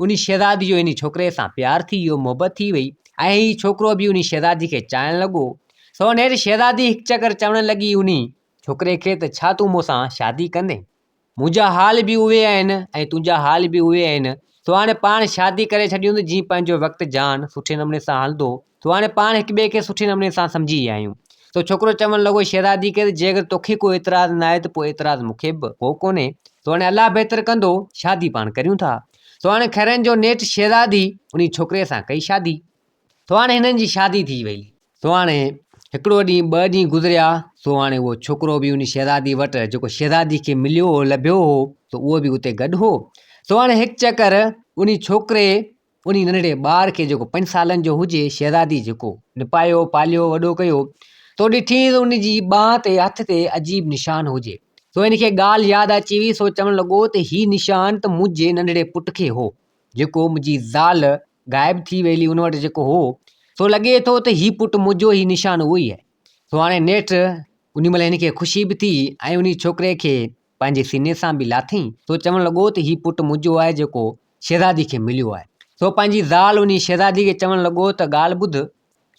انهي شهزادي جو انهي ڇوڪري سان پيار ٿي ويو محبت ٿي وئي ۽ هي ڇوڪرو به انهي شهزادي کي چاهڻ لڳو سو هينئر شهزادي هڪ چڪر چوڻ لڳي انهي ڇوڪري کي ته ڇا تون مون سان شادي ڪندين منهنجا حال به اهي آهن ۽ تنهنجا حال به اهي آهن سو هاڻي پاڻ شادي ڪري ڇڏيون ته جيئن پنهنجو وقت جهان سٺي نموني سان هلندو سو هاڻي پاڻ هڪ ٻئي کي سٺي نموني سان سمجهي ويا آهيون سو ڇوڪرو چوڻ لڳو شهرادي کي ته جي اگر توکي ڪو اعتراض ناهي ته پوء اعتراض مون کي به ڪو ڪونهي سو هاڻي الله بهتر ڪندو شادي پاڻ ڪريون ٿا سو هاڻي خيرن جو نيٺ شهزادي انهي ڇوڪري سان ڪئي شادي سهاڻي هنن جي شادي ٿي وئي. سهاڻي هڪڙو ڏينهن ٻه ڏينهن گذريا سهاڻي اهو ڇوڪرو به انهي شهزادي وٽ جيڪو شهزادي کي مليو هو لڀيو هو سو اهو به اتي گڏ هو سهاڻي هڪ چڪر انهي ڇوڪري انهي ننڍڙي ٻار کي جيڪو پنج سالن جو هجي شهزادي جيڪو نپايو پاليو وڏو ڪيو سو ڏٺينس ته ان جي ٻانهن تي هٿ تي عجيب نشان هجي سو هن کي ڳالهه ياد اچي وئي سو چوڻ لڳو ته هي نشان ته منهنجي ننڍڙي پٽ کي هو جيڪو منهنجي زال غائب ٿي ويلي ان وٽ جيڪو هو سو لڳي ٿو ته هي پٽ منهنجو هي نشان اهو ئي آهي سو هاڻي نيٺ ان مهل هن کي خوشي به ٿي ۽ ان ڇوڪري کي پنهنجي سيني سان به لاٿئين سو چوڻ لڳو ته هي پٽ منهنجو آهي جيڪو شهزادي کي مليو آهي سو پنهنجي زال ان شهزادي کي چوڻ لڳو ته ڳالهه ٻڌ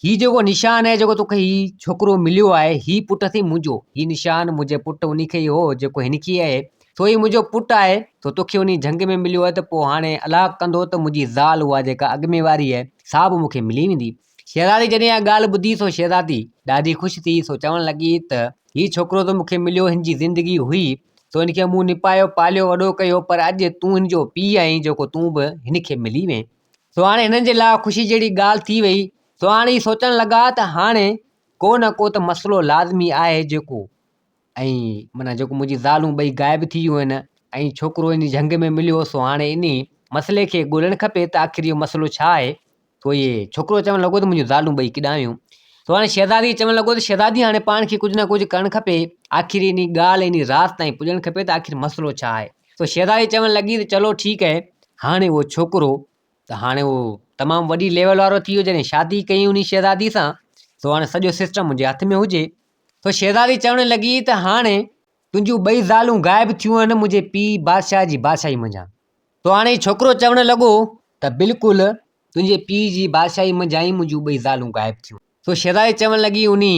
هي جيڪو نشان اهي جيڪو توکي هي ڇوڪرو مليو آهي هي پٽ اٿئي منهنجو هي نشان منهنجي پٽ انهي کي ئي هو جيڪو هن کي آهي سو هي منهنجو پٽ آهي سو توکي انهي جهنگ ۾ مليو آهي ته پوء هاڻي الله ڪندو ته منهنجي زال اها جيڪا اڳ ۾ واري آهي سا به مونکي ملي ويندي شهزادي جڏهن اها ڳالهه ٻڌي سو شهزادي ڏاڍي خوش ٿي سو چوڻ لڳي ته هي ڇوڪرو ته مونکي مليو هن جي زندگي هئي سو هن کي مون نپايو پاليو وڏو ڪيو پر اڄ تون هن جو پيء آهين جيڪو تون به هن کي ملي وئين سو هاڻي هنن جي لاء خوشي جهڙي ڳالهه ٿي وئي، سو هاڻي هي سوچڻ لڳا ته هاڻي ڪو نه ڪو ته مسئلو لازمي آهي جيڪو ۽ معنيٰ جيڪو منهنجي زالون ٻئي غائب ٿي ويون آهن ۽ ڇوڪرو انهي جهنگ ۾ مليو سو هاڻي انهي مسئلي کي ڳولڻ کپي ته آخر اهو مسئلو ڇا آهي سو هي ڇوڪرو چوڻ لڳو ته منهنجون زالون ٻئي ڪيڏانهن ويون سو هاڻي شهزادي چوڻ لڳو ته شهزادي هاڻي پاڻ کي ڪجهه نه ڪجهه ڪرڻ کپي آخر انهي ڳالهه انهي راز تائين پڄڻ کپي ته آخر مسئلو ڇا آهي سو شهزادي چوڻ لڳي ته چلو ٺيڪ اهي هاڻي اهو ڇوڪرو ته هاڻي اهو تمام وڏي ليول وارو ٿي ويو جڏهن شادي ڪئي انهي شهزادي سان سو هاڻي سڄو سسٽم منهنجي هٿ ۾ هجي سو شهزادي چوڻ لڳي ته هاڻي تنهنجون ٻئي زالون غائب ٿيون آهن منهنجي پيء بادشاهه جي بادشاهي منجهان سو هاڻي ڇوڪرو چوڻ لڳو ته بلڪل تنهنجي پيء جي بادشاهي منجهان ئي منهنجون ٻئي زالون غائب ٿيون سو شھزادي چوڻ لڳي انھي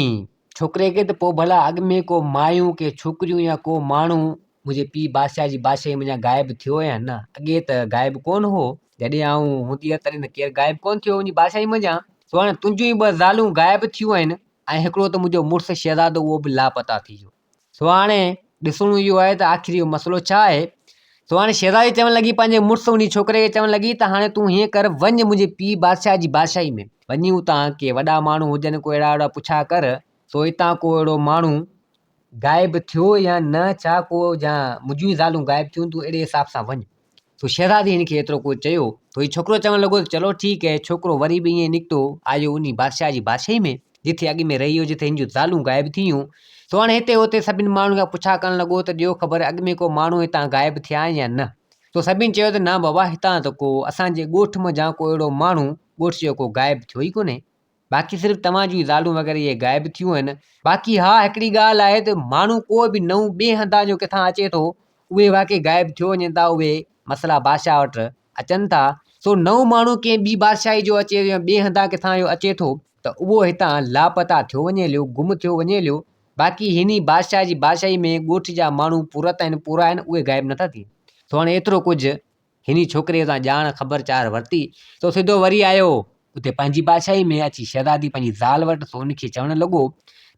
ڇوڪري کي ته پوء ڀلا اڳ ۾ ڪو مايون ڪي ڇوڪريون يا ڪو ماڻھو منھنجي پيء بادشاھه جي بادشاھي منجھان غائب ٿيو يا نه؟ اڳي ته غائب ڪونه ھو. جڏھن آئون ھوندي ھئس تڏھن ته ڪير غائب ڪونه ٿيو ھو منھنجي بادشاھي منجھان. سو ھاڻي تنھنجون ئي ٻه زالون غائب ٿيون آھن ۽ ھڪڙو ته منھنجو مڙس شھزادو اھو به لاپتا ٿي ويو. سو هاڻي ڏسڻو اهو آهي ته آخر اهو مسئلو ڇا آهي سو هاڻي شهزادي چوڻ لڳي پنهنجي مڙس ان ڇوڪري کي چوڻ لڳي ته هاڻي تون هيئن ڪر وڃ منهنجي پيء بادشاهه جي بادشاهي ۾ وڃي اتان ڪي وڏا ماڻهو هجن ڪو اهڙا وهڙا پڇا ڪر سو اتان ڪو اهڙو ماڻهو غائب ٿيو يا نه ڇا ڪو جا منهنجون ئي زالون غائب ٿيون تون اهڙي حساب سان وڃ تو شهزادي هن کي ايترو ڪجهه چيو تو هي ڇوڪرو چوڻ لڳو ته چلو ٺيڪ هي ڇوڪرو وري به ائين نڪتو آيو انهي بادشاهه جي بادشاهي ۾ جٿي اڳ ۾ رهي هو جٿي هن جون زالون غائب ٿي ويون تو هاڻي هتي هتي سڀني ماڻهن کان پڇا ڪرڻ لڳو ته ڏيو خبر اڳ ۾ ڪو ماڻهو هتان غائب ٿيا آهن يا نه تو سڀني چيو ته نه بابا هتان ته ڪو اسان جي ڳوٺ منجهان ڪو اهڙو ماڻهو ڳوٺ جو ڪو غائب ٿيو ئي ڪونهي باقي صرف توهان جون زالون وغيره اهي غائب ٿيون آهن. باقي ها هڪڙي ڳالهه آهي ته ماڻهو ڪو به نئون ٻئي هنڌان جو ڪٿان اچي ٿو اهي واقعي غائب ٿيو وڃن ٿا اهي مسئلا بادشاهه وٽ اچن ٿا سو نئون ماڻهو ڪنهن ٻي بادشاهي جو اچي يا ٻئي هنڌان ڪٿان جو اچي ٿو ته اهو هتان لاپتا ٿيو وڃي ليو گم ٿيو وڃي ليو باقي هن ئي بادشاهه جي بادشاهي ۾ ڳوٺ جا ماڻهو پورت آهن پورا آهن اهي غائب نٿا ٿين سو هاڻي ايترو ڪجهه هن ڇوڪريء تان ڄاڻ خبر چار ورتي، سو سڌو وري آيو. اتي پنهنجي بادشاهيء ۾ اچي شهزادي پنهنجي زال وٽ سو ان کي چوڻ لڳو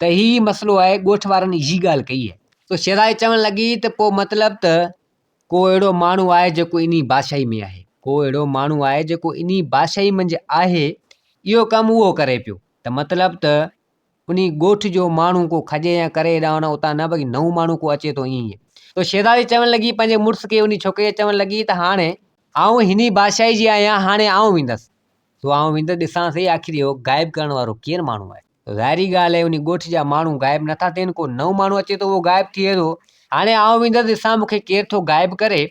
ته هي ئي مسئلو آهي، ڳوٺ وارن اهي ڳالهه ڪئي آهي. سو شهزادي چوڻ لڳي ته پوء مطلب ته ڪو اهڙو ماڻهو آهي جيڪو انهيء بادشاهيء ۾ آهي. ڪو اهڙو ماڻهو آهي جيڪو انهيء بادشاهيء منجهه آهي، اهو ڪم اهو ڪري پيو ته مطلب ته انهي ڳوٺ جو ماڻهو ڪو کڄي يا ڪري هيڏانهن هوڏانهن اتان نه بلڪه نئون ماڻهو ڪو اچي ٿو ائين ئي. تو شهزادي چوڻ لڳي پنهنجي مڙس کي انهي ڇوڪريء چوڻ لڳي ته هاڻي آئون انهي بادشاهي جي آهيان هاڻي آئون ويندس سو آئون ويندس ڏسان سهي آخر اهو غائب ڪرڻ وارو ڪير ماڻهو آهي سو ظاهري ڳالهه آهي انهي ڳوٺ جا ماڻهو غائب نه ٿا ٿين ڪو نئون ماڻهو اچي ٿو اهو غائب ٿئي ٿو هاڻي آئون ويندس ڏسان مون کي ڪير ٿو غائب ڪري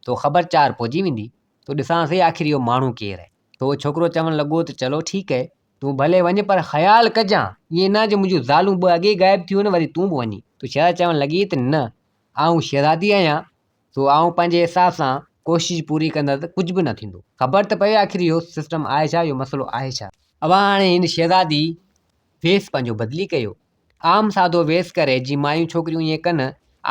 سو خبر چار پئجي ويندي سو ڏسان سهي آخر اهو ماڻهو ڪير آهي سو اهو ڇوڪرو چوڻ لڳو ته چلو ٺيڪ اهي. تون ڀلي وڃ پر خيال ڪجان، ائين نه جو منهنجون زالون ٻه اڳيئي غائب ٿيون آهن وري تون به وڃين. تو شهزادي چوڻ لڳي ته نه، آئون شهزادي آهيان، سو آئون پنهنجي حساب سان ڪوشش پوري ڪندس ته ڪجهه به نه ٿيندو. خبر ته پوي آخر اهو سسٽم آهي ڇا، اهو مسئلو آهي ڇا. اوهان هاڻي هن شهزادي ويس پنهنجو بدلي ڪيو. عام سادو ويس ڪري، جيئن مايون ڇوڪريون ائين ڪن،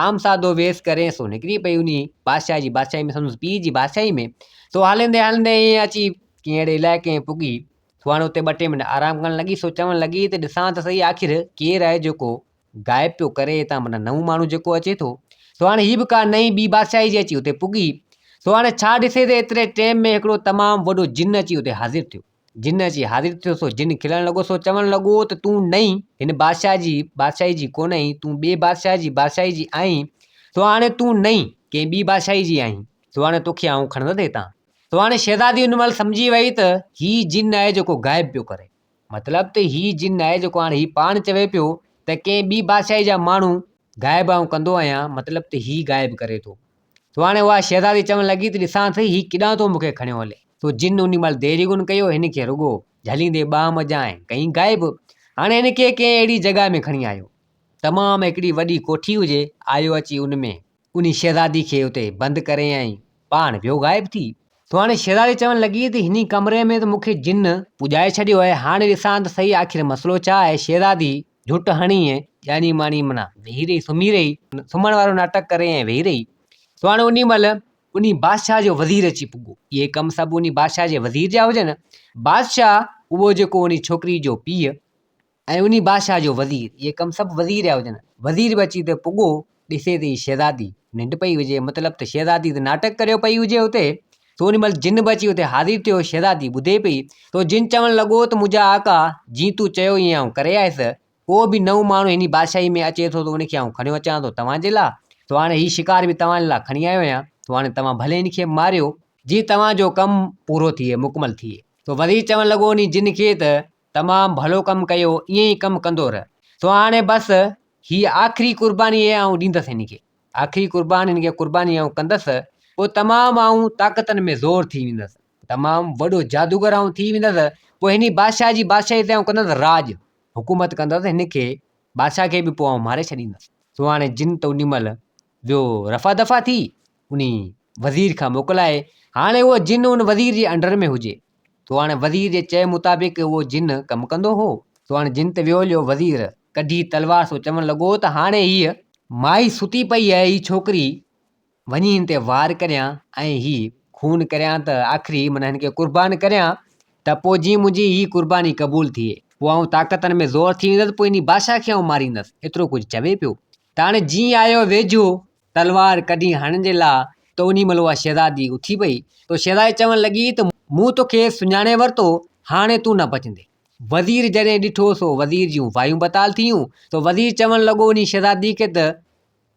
عام سادو ويس ڪري سو نڪري پئي انهيء بادشاهه جي بادشاهيء ۾، سندس پيء جي بادشاهيء ۾، سو هلندي هلندي ائين اچي ڪنهن اهڙي علائقي ۾ پڳي، سوهڻ اتي ٻه ٽي منٽ آرام ڪرڻ لڳي سو چوڻ لڳي ته ڏسان ته سهي آخر ڪير آهي جيڪو غائب پيو ڪري هتان منا نئون ماڻهو جيڪو اچي ٿو سو هاڻي هي به ڪا نئين ٻي بادشاهي جي اچي اتي پڳي سو هاڻي ڇا ڏسي ته ايتري ٽيم ۾ هڪڙو تمام وڏو جن اچي اتي حاضر ٿيو جن اچي حاضر ٿيو سو جن کلڻ لڳو سو چوڻ لڳو ته تون نئين هن بادشاهه جي بادشاهي جي ڪونه آهين تون ٻي بادشاهه جي بادشاهي جي آهين سو هاڻي تون نئين ڪنهن ٻي بادشاهي جي آهين سو هاڻي توکي آئون کڻندس هتان سو هاڻي شهزادي ان مهل سمجهي وئي ته هي جن آهي جيڪو غائب پيو ڪري مطلب ته هي جن آهي جيڪو هاڻي هي پاڻ چوي پيو ته ڪنهن ٻي بادشاهي جا ماڻهو غائب آئون ڪندو آهيان مطلب ته هي غائب ڪري ٿو سو هاڻي اها شهزادي چوڻ لڳي ته ڏسان ٿي هي ڪيڏانهن ٿو مون کي کڻيو هلي سو جن ان مهل دير ئي ڪونه ڪيو هن کي رڳو جهليندي ٻانهن منجهان ۽ ڪئين غائب هاڻي هن کي ڪنهن اهڙي جڳهه ۾ کڻي آيو تمام هڪڙي وڏي ڪوٺي هجي آيو اچي ان ۾ انهي شهزادي کي اتي بند ڪرين ۽ پاڻ ويو غائب ٿي. سو هاڻي شهزادي چوڻ لڳي ته هني ڪمري ۾ ته مون کي جن پڄائي ڇڏيو آهي، هاڻي ڏسان ته سهي آخر مسئلو ڇا آهي؟ شهزادي جهٽ هڻي ۽ ڄاڻي ماڻي معنيٰ ويهي رهي، سمهي رهي، سمهڻ وارو ناٽڪ ڪري ۽ ويهي رهي. سو هاڻي انهي مهل انهي بادشاهه جو وزير اچي پڳو. اهي ڪم سڀ انهي بادشاهه جي وزير جا هجن. بادشاهه اهو جيڪو انهي ڇوڪري جو پيء ۽ انهي بادشاهه جو وزير، اهي ڪم سڀ وزير رهيا هجن. وزير به اچي اتي پڳو، ڏسي ته هي شهزادي ننڊ پئي هجي، مطلب ته شهزادي ته ناٽڪ ڪريو پئي هجي اتي، سو انهي مهل جن به اچي اتي حاضر ٿيو، شهزادي ٻڌي پئي، سو جن چوڻ لڳو ته منهنجا آقا، جيئن تون چيو ائين آئون ڪري آيس، ڪو به نئون ماڻهو هني بادشاهي ۾ اچي ٿو ته ان کي آئون کڻيو اچان ٿو توهان جي لا، سو هاڻي هي شڪار به توهان لا کڻي آيو آهيان، سو هاڻي توهان ڀلي هن کي ماريو. جيئن توهان جو ڪم پورو ٿئي، مڪمل ٿئي. سو وزير چوڻ لڳو انهي جن کي ته تمام ڀلو ڪم ڪيو ائين ئي ڪم ڪندو رهه سو هاڻي بس هي آخري قرباني هي آئون ڏيندس هن کي آخري قربان هن کي قرباني آئون ڪندس پوء تمام آئون طاقتن ۾ زور ٿي ويندس تمام وڏو جادوگر آئون ٿي ويندس پوء هن ئي بادشاهه جي بادشاهي تي آئون ڪندس راڄ حڪومت ڪندس هن کي بادشاهه کي به پوء آئون ماري ڇڏيندس سو هاڻي جن ته ان مهل ٻيو رفع دفع ٿي ان وزير کان موڪلائي هاڻي اهو جن ان وزير جي انڊر ۾ هجي سو هاڻي وزير جي چئي مطابق اهو جن ڪم ڪندو هو سو هاڻي جن تي ويو جو وزير ڪڍي تلوار سو چوڻ لڳو ته هاڻي هيء مائي ستي پئي آهي هي ڇوڪري وڃي هن تي وار ڪريان ۽ هي خون ڪريان ته آخري معنيٰ هن کي قربان ڪريان ته پوء جي منهنجي هي قرباني قبول ٿئي پوء آئون طاقتن ۾ زور ٿي ويندس پوء انهي بادشاهه کي آئون ماريندس ايترو ڪجهه چوي پيو ته هاڻي جيئن آيو ويجهو تلوار ڪڍي هڻڻ جي لاء ته انهي مهل اها شهزادي اٿي پئي ته شهزادي چوڻ لڳي ته مون توکي سڃاڻي ورتو هاڻي تون نه بچندين. وزير جڏهن ڏٺو سو وزير جون وايون بتال ٿيون سو وزير چوڻ لڳو انهي شهزادي کي ته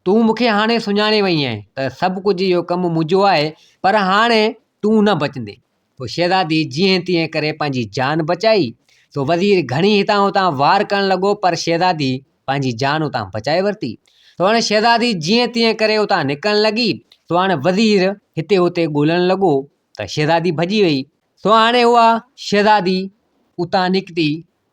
تون مون کي هاڻي سڃاڻي وئي آهين ته سڀ ڪجهه اهو ڪم منهنجو آهي پر هاڻي تون نه بچندين پوء شهزادي جيئن تيئن ڪري پنهنجي جان بچائي سو وزير گهڻي هتان هتان وار ڪرڻ لڳو پر شهزادي پنهنجي جان اتان بچائي ورتي سو هاڻي شهزادي جيئن تيئن ڪري اتان نڪرڻ لڳي سو هاڻي وزير هتي هتي ڳولڻ لڳو ته شهزادي ڀڄي وئي سو هاڻي اها شهزادي اتان نڪتي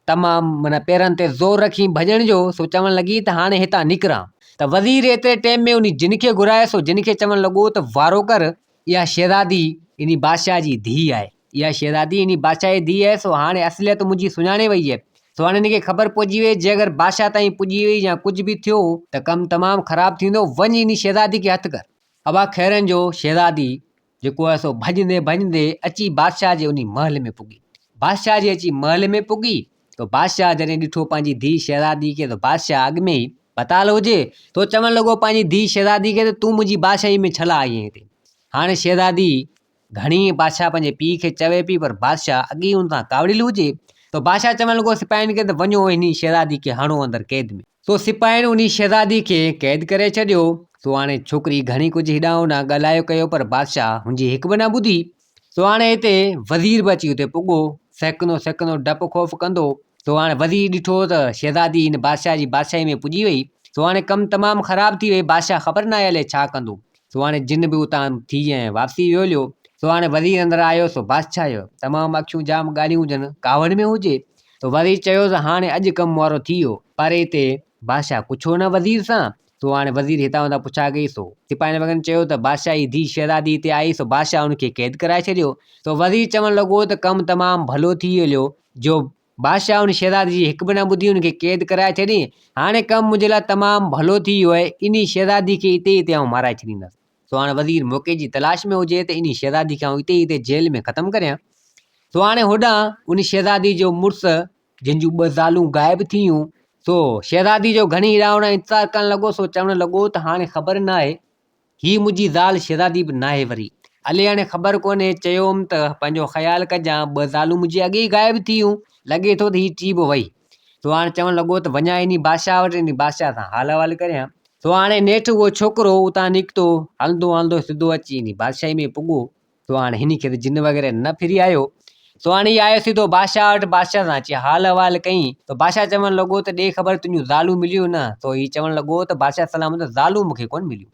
تمام معنيٰ پيرن تي زور رکي ڀڄڻ جو سو چوڻ لڳي ته هاڻي هتان نڪران ته وزير ايتري ٽيم ۾ انهي جن کي گهرايو سو جن کي چوڻ لڳو ته وارو ڪر اها شهزادي انهي بادشاهه جي ڌيء آهي اها شهزادي انهي بادشاهه جي ڌيء آهي سو هاڻي اصليت منهنجي سڃاڻي وئي آهي سو هاڻي هن کي خبر پئجي وئي جي اگر بادشاهه تائين پڄي وئي يا ڪجهه به ٿيو ته ڪم تمام خراب ٿيندو وڃ انهي شهزادي کي هٿ ڪر اها خيرن جو شهزادي جيڪو آهي سو ڀڄندي ڀڄندي اچي بادشاهه جي انهي محل ۾ پڳي بادشاهه جي اچي محل ۾ پڳي تو بادشاهه جڏهن ڏٺو پنهنجي ڌي شهزادي کي تو بادشاهه اڳ ۾ ئي بتال هجي تو چوڻ لڳو پنهنجي ڌي شهزادي کي تون منهنجي بادشاهي ۾ ڇلا آئي هتي هاڻي شهزادي گهڻي بادشاهه پنهنجي پيء کي چوي پئي پر بادشاهه اڳ ئي ان کان ڪاوڙيل هجي ته بادشاهه چوڻ لڳو سپاهين کي ته وڃو انهي شهزادي کي هڻو اندر قيد ۾. سو سپاهين انهي شهزادي کي قيد ڪري ڇڏيو. سو هاڻي ڇوڪري گهڻي ڪجهه هيڏانهن هوڏانهن ڳالهايو ڪيو پر بادشاهه هن جي هڪ به نه ٻڌي. سو هاڻي هتي وزير به اچي اتي پڳو. سهڪندو سهڪندو ڊپ خوف ڪندو. سو هاڻي وزير ڏٺو ته شهزادي هن بادشاهه جي بادشاهي ۾ پڄي وئي. سو هاڻي ڪم تمام خراب ٿي وئي. بادشاهه خبر ناهي الئي ڇا ڪندو. سو هاڻي جن به اتان ٿي ۽ واپسي ويوليو، سو هاڻي وزير اندر آيو، سو بادشاهه جو تمام اکيون جام ڳالهيون جن ڪاوڙ ۾ هجي، سو وزير چيوس هاڻي اڄ ڪم مورو ٿي ويو، پر اتي بادشاهه ڪڇو نه وزير سان، سو هاڻي وزير هتان هتان پڇا ڪئي، سو سپاهين وڳن چيو ته بادشاهه جي ڌيء شهزادي هتي آئي، سو بادشاهه ان کي قيد ڪرائي ڇڏيو، سو وزير چوڻ لڳو ته ڪم تمام ڀلو ٿي ويوليو، جو بادشاهه ان شهزادي جي هڪ به نه ٻڌي ان کي قيد ڪرائي ڇڏيائين. هاڻي ڪم منهنجي لاء تمام ڀلو ٿي ويو آهي. انهي شهزادي کي اتي ئي اتي آئون مارائي ڇڏيندس. سو هاڻي وزير موقعي جي تلاش ۾ هجي ته انهي شهزادي کي آئون اتي ئي اتي جيل ۾ ختم ڪريان. سو هاڻي هوڏانهن انهي شهزادي جو مڙس جنهن جون ٻه زالون غائب ٿيون سو شهزادي جو گهڻي هيڏانهن هوڏانهن انتظار ڪرڻ لڳو سو چوڻ لڳو ته هاڻي خبر ناهي هيء منهنجي زال شهزادي به ناهي وري. علي هاڻي خبر ڪونهي چيو هوم ته پنهنجو خيال ڪجان، ٻه زالون منهنجي اڳي ئي غائب ٿي ويون، لڳي ٿو ته هيء ٽي به وئي. سو هاڻي چوڻ لڳو ته وڃان انهيء بادشاهه وٽ انهيء بادشاهه سان حال احوال ڪريان. سو هاڻي نيٺ اهو ڇوڪرو اتان نڪتو، هلندو هلندو سڌو اچي انهيء بادشاهي ۾ پڳو. سو هاڻي هن کي ته جن وغيره نه ڦري آيو. سو هاڻي هي آيو سڌو بادشاهه وٽ، بادشاهه سان اچي حال احوال ڪيائين. سو بادشاهه چوڻ لڳو ته ڏي خبر تنهنجون زالون مليون نه؟ سو هي چوڻ لڳو ته بادشاهه سلامت زالون مون کي ڪونه مليون.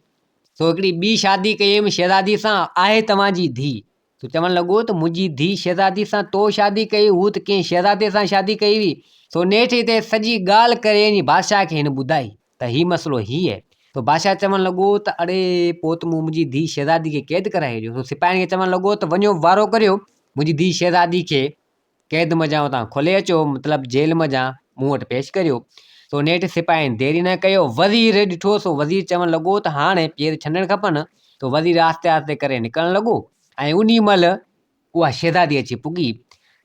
سو هڪڙي ٻي شادي ڪئي هيم شهزاديء سان، آهي توهان جي ڌيء. سو چوڻ لڳو ته منهنجي ڌيء شهزاديء سان تو شادي ڪئي هئي، هوء ته ڪنهن شهزادي سان شادي ڪئي هئي. سو نيٺ هتي سڄي ڳالهه ڪري هن بادشاهه کي هن ٻڌائي. ته هي مسئلو هي هي. سو بادشاهه چوڻ لڳو ته اڙي پوت مون منهنجي ڌيء شهزادي کي قيد ڪرائي هيڏيو. سو سپاهين کي چوڻ لڳو ته وڃو وارو ڪريو منهنجي ڌيء شهزادي کي قيد منجهان اتان کولي اچو مطلب جيل منجهان مون وٽ پيش ڪريو. سو نيٺ سپاهين دير ئي نه ڪيو وزير ڏٺو سو وزير چوڻ لڳو ته هاڻي پير ڇنڊڻ کپن. سو وزير آهستي آهستي ڪري نڪرڻ لڳو ۽ انهي مهل اها شهزادي اچي پڳي.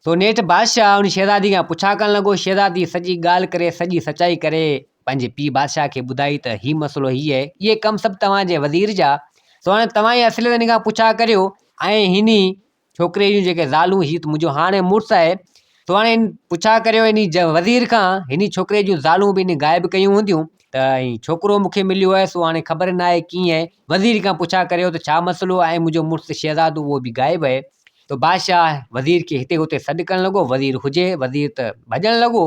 سو نيٺ بادشاهه ان شهزادي کان پڇا ڪرڻ لڳو. شهزادي سڄي ڳالهه ڪري سڄي سچائي ڪري پنهنجي پيء بادشاهه کي ٻڌائي ته هي مسئلو هي اهي اهي ڪم سڀ توهان جي وزير جا سو هاڻي توهان ئي اصليت هن کان پڇا ڪريو ۽ هن ئي ڇوڪري جون جيڪي زالون هي ته منهنجو هاڻي مڙس آهي سو هاڻي پڇا ڪريو هن وزير کان هن ڇوڪري جون زالون به هن غائب ڪيون هونديون ته ۽ ڇوڪرو مون کي مليو آهي سو هاڻي خبر نه آهي ڪيئن آهي وزير کان پڇا ڪريو ته ڇا مسئلو آهي ۽ منهنجو مڙس شهزادو اهو به غائب آهي ته بادشاهه وزير کي هتي هتي سڏ ڪرڻ لڳو وزير هجي وزير ته ڀڄڻ لڳو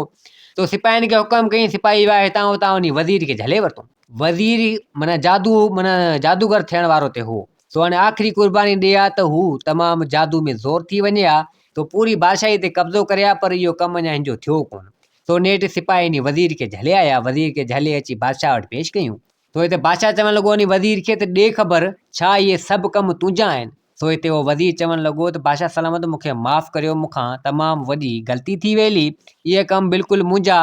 تو سپاهين کي حڪم ڪيائين سپاهي ويا هتان هتان وڃي وزير کي جهلي ورتو وزير معنيٰ جادو معنيٰ جادوگر ٿيڻ وارو ته هو سو هاڻي آخري قرباني ڏئي ها ته هو تمام جادو ۾ زور ٿي وڃي ها تو پوري بادشاهي تي قبضو ڪري ها پر اهو ڪم اڃا هن جو ٿيو ڪونه سو نيٺ سپاهي انهي وزير کي جهلي آيا، وزير کي جهلي اچي بادشاهه وٽ پيش ڪيون. سو هتي بادشاهه چوڻ لڳو انهي وزير کي ته ڏي خبر ڇا اهي سڀ ڪم تنهنجا آهن؟ سو هتي اهو وزير چوڻ لڳو ته بادشاهه سلامت مون کي معاف ڪريو مون کان تمام وڏي غلطي ٿي ويلي، اهي ڪم بلڪل منهنجا،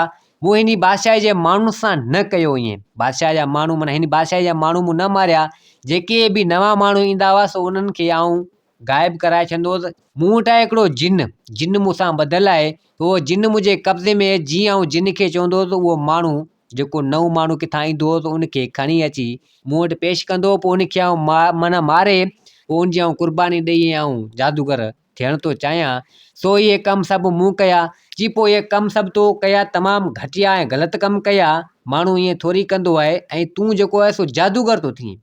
مون هني بادشاهي جي ماڻهن سان نه ڪيو ايئن، بادشاهه جا ماڻهو معنيٰ هني بادشاهي جا ماڻهو مون نه ماريا، جيڪي به نوان ماڻهو ايندا هئا سو انهن کي آئون غائب ڪرائي ڇڏندو هوس مون وٽ آهي هڪڙو جن جن مون سان ٻڌل آهي اهو جن منهنجي قبضي ۾ جيئن آئون جن کي چوندو هوس اهو ماڻهو جيڪو نئون ماڻهو ڪٿان ايندو هوس ان کي کڻي اچي مون وٽ پيش ڪندو هو پوء ان کي آئون ما معنيٰ ماري پوء ان جي آئون قرباني ڏئي ۽ آئون جادوگر ٿيڻ ٿو چاهيان سو اهي ڪم سڀ مون ڪيا جي پوء اهي ڪم سڀ تو ڪيا تمام گهٽيا ۽ غلط ڪم ڪيا ماڻهو ائين ٿوري ڪندو آهي ۽ تون جيڪو آهي سو جادوگر ٿو ٿئين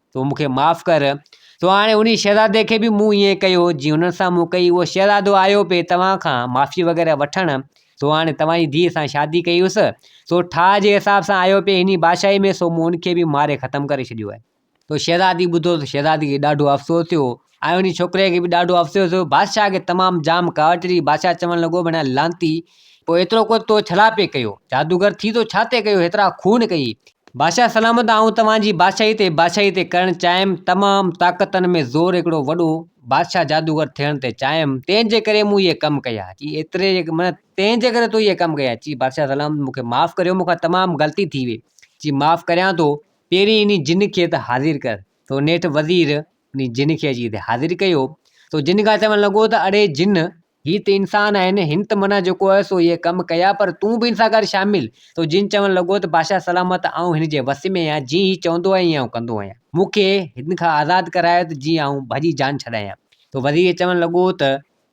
تون مون کي معاف ڪر سو هاڻي انهي شهزادي کي به مون ائين ڪيو جيئن هن سان مون ڪئي اهو شهزادو آيو پئي توهان کان معافي وغيره وٺڻ سو هاڻي توهان جي ڌيء سان شادي ڪئي هيس سو ٺاهه جي حساب سان آيو پئي هني بادشاهي ۾ سو مون ان کي به ماري ختم ڪري ڇڏيو آهي سو شهزادي ٻڌو ته شهزادي کي ڏاڍو افسوس ٿيو آء انهيء ڇوڪريء کي به ڏاڍو افسوس هيو. بادشاهه کي تمام جام ڪاوڙ چڙهي. بادشاهه چوڻ لڳو، ڀڻيا لعنتي! پوء ايترو ڪو تو ڇلا پئي ڪيو؟ جادوگر ٿي تو ڇا تي ڪيو؟ هيترا خون ڪئي؟ بادشاهه سلامت! آئون توهان جي بادشاهيء تي بادشاهي تي ڪرڻ چاهيم. تمام طاقتن ۾ زور هڪڙو وڏو بادشاهه جادوگر ٿيڻ تي چاهيم. تنهن جي ڪري مون اهي ڪم ڪيا. چي ايتري جي ڀڻيا تنهن جي ڪري تو اهي ڪم ڪيا؟ چي بادشاهه سلامت! مون کي معاف ڪريو. مون کان تمام غلطي ٿي وئي. چي معاف ڪريان ٿو. پهرين انهيء جن کي ته حاضر ڪر. سو نيٺ وزير انهيء جن کي اچي هتي حاضر ڪيو ته هو جن کان چوڻ لڳو ته اڙي جن، هي ته انسان آهن، هن ته منان جيڪو هيو سو اهي ڪم ڪيا، پر تون به هن سان گڏ شامل ٿيو. جن چوڻ لڳو ته بادشاهه سلامت، آئون هن جي وس ۾ آهيان، جيئن هي چوندو آهي، ايئن آئون ڪندو آهيان. مون کي هن کان آزاد ڪرايو ته جيئن آئون ڀڄي جان ڇڏايان. ته وزير چوڻ لڳو ته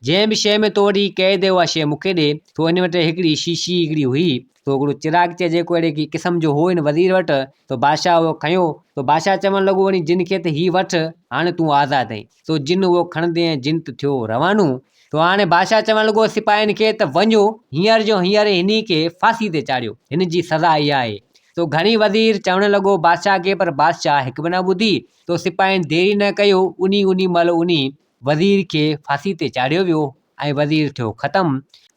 جنهن به شيء ۾ تو وٽ هي قيد اها شيء مون کي ڏي. سو هن وٽ هڪڙي شيشي هڪڙي هئي. سو هڪڙو چراغ چئي جيڪو اهڙي ڪي قسم جو هو هن وزير وٽ. سو بادشاهه اهو کنيو. سو بادشاهه چوڻ لڳو وڃي جن کي ته هي وٺ. هاڻي تون آزاد آهين. سو جن اهو کڻندي ۽ جن ته ٿيو روانو. سو هاڻي بادشاهه چوڻ لڳو سپاهين کي ته وڃو هينئر جو هينئر هني کي ڦاسي تي چاڙهيو. هن جي سزا اها آهي. سو گهڻي وزير چوڻ لڳو بادشاهه کي پر بادشاهه هڪ به نه ٻڌي. سو سپاهين ديري نه ڪيو انهي انهي مهل انهي وزير کي ڦاسي تي چاڙهيو ويو ۽ وزير ٿيو ختم.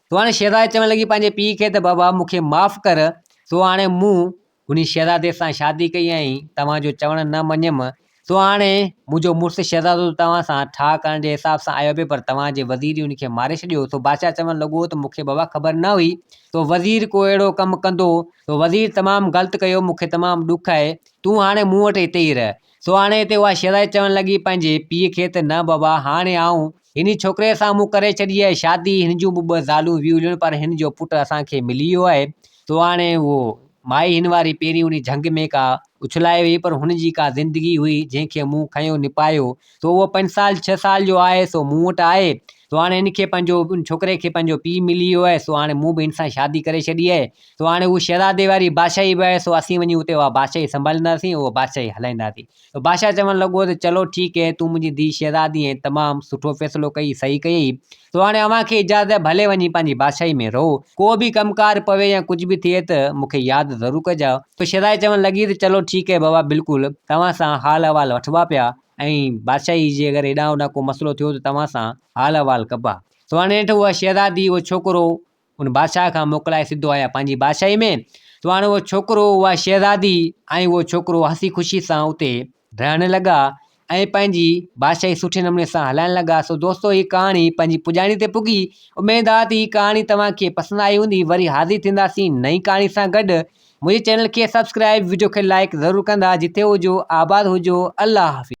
سو هاڻي شهزادي چوڻ لڳي پنهنجي پيء کي ته بابا مون کي معاف ڪر. سو هاڻي مون هن شهزادي سان شادي ڪئي ۽ توهان جو چوڻ نه مڃيم. سو هاڻي منهنجو مڙس شهزادو ته توهان سان ٺاهه ڪرڻ جي حساب سان آيو پئي پر توهان جي وزير ان کي ماري ڇڏيو. سو بادشاهه چوڻ لڳو ته مون کي بابا خبر نه هئي ته وزير ڪو اهڙو ڪم ڪندو. سو وزير تمام غلط ڪيو. مون کي تمام ڏک آهي. تون هاڻي مون وٽ هتي ئي رهه. سو هاڻي هتي اها شيرائي چوڻ لڳي پنهنجي پيء کي ته نه بابا هاڻي آئون هن ڇوڪري سان مون ڪري ڇڏي آهي شادي هن جون به ٻه زالون ويوليون پر هن جو پٽ اسان کي ملي ويو آهي سو هاڻي اهو مائي هن واري پهرين انهي جهنگ ۾ ڪا اڇلائي وئي پر هن جي ڪا زندگي هئي جنهن کي مون کنيو نپايو سو اهو پنج سال ڇهه سال جو آهي سو مون وٽ آهي سو هاڻي هن کي پنهنجو ان ڇوڪري کي پنهنجو پيء ملي ويو آهي سو هاڻي مون به هن سان شادي ڪري ڇڏي آهي سو هاڻي هو شهزادي واري بادشاهي به آهي سو اسين وڃي اتي اها بادشاهي سنڀالينداسين اها بادشاهي هلائينداسين سو بادشاهه چوڻ لڳو ته چلو ٺيڪ هي تون منهنجي ڌيء شهزادي آهين تمام سٺو فيصلو ڪيئي صحيح ڪيئي سو هاڻي اوهان کي اجازت آهي ڀلي وڃي پنهنجي بادشاهي ۾ رهو ڪو به ڪم ڪار پوي يا ڪجهه به ٿئي ته مون کي ياد ضرور ڪجاء سو شهزادي چوڻ لڳي ته چلو ٺيڪ هي بابا بلڪل توهان سان حال احوال وٺبا پيا ۽ بادشاهي جي اگر هيڏانهن هوڏانهن ڪو مسئلو ٿيو ته توهان سان حال احوال ڪبا سو هاڻي نيٺ اها شهزادي اهو ڇوڪرو ان بادشاهه کان موڪلائي سڌو آيا پنهنجي بادشاهي ۾، سو هاڻي اهو ڇوڪرو، اها شهزادي ۽ اهو ڇوڪرو هسي خوشي سان اتي رهڻ لڳا ۽ پنهنجي بادشاهي سٺي نموني سان هلائڻ لڳا. سو دوستو هي ڪهاڻي پنهنجي پڄاڻي تي پڳي. اميد آهي ته هي ڪهاڻي توهان کي پسند آئي هوندي. وري حاضر ٿينداسين نئين ڪهاڻي سان گڏ. منهنجي چينل کي سبسڪرائيب، وڊيو کي لائيڪ ضرور ڪندا. جتي هجو آباد هجو. الله حافظ.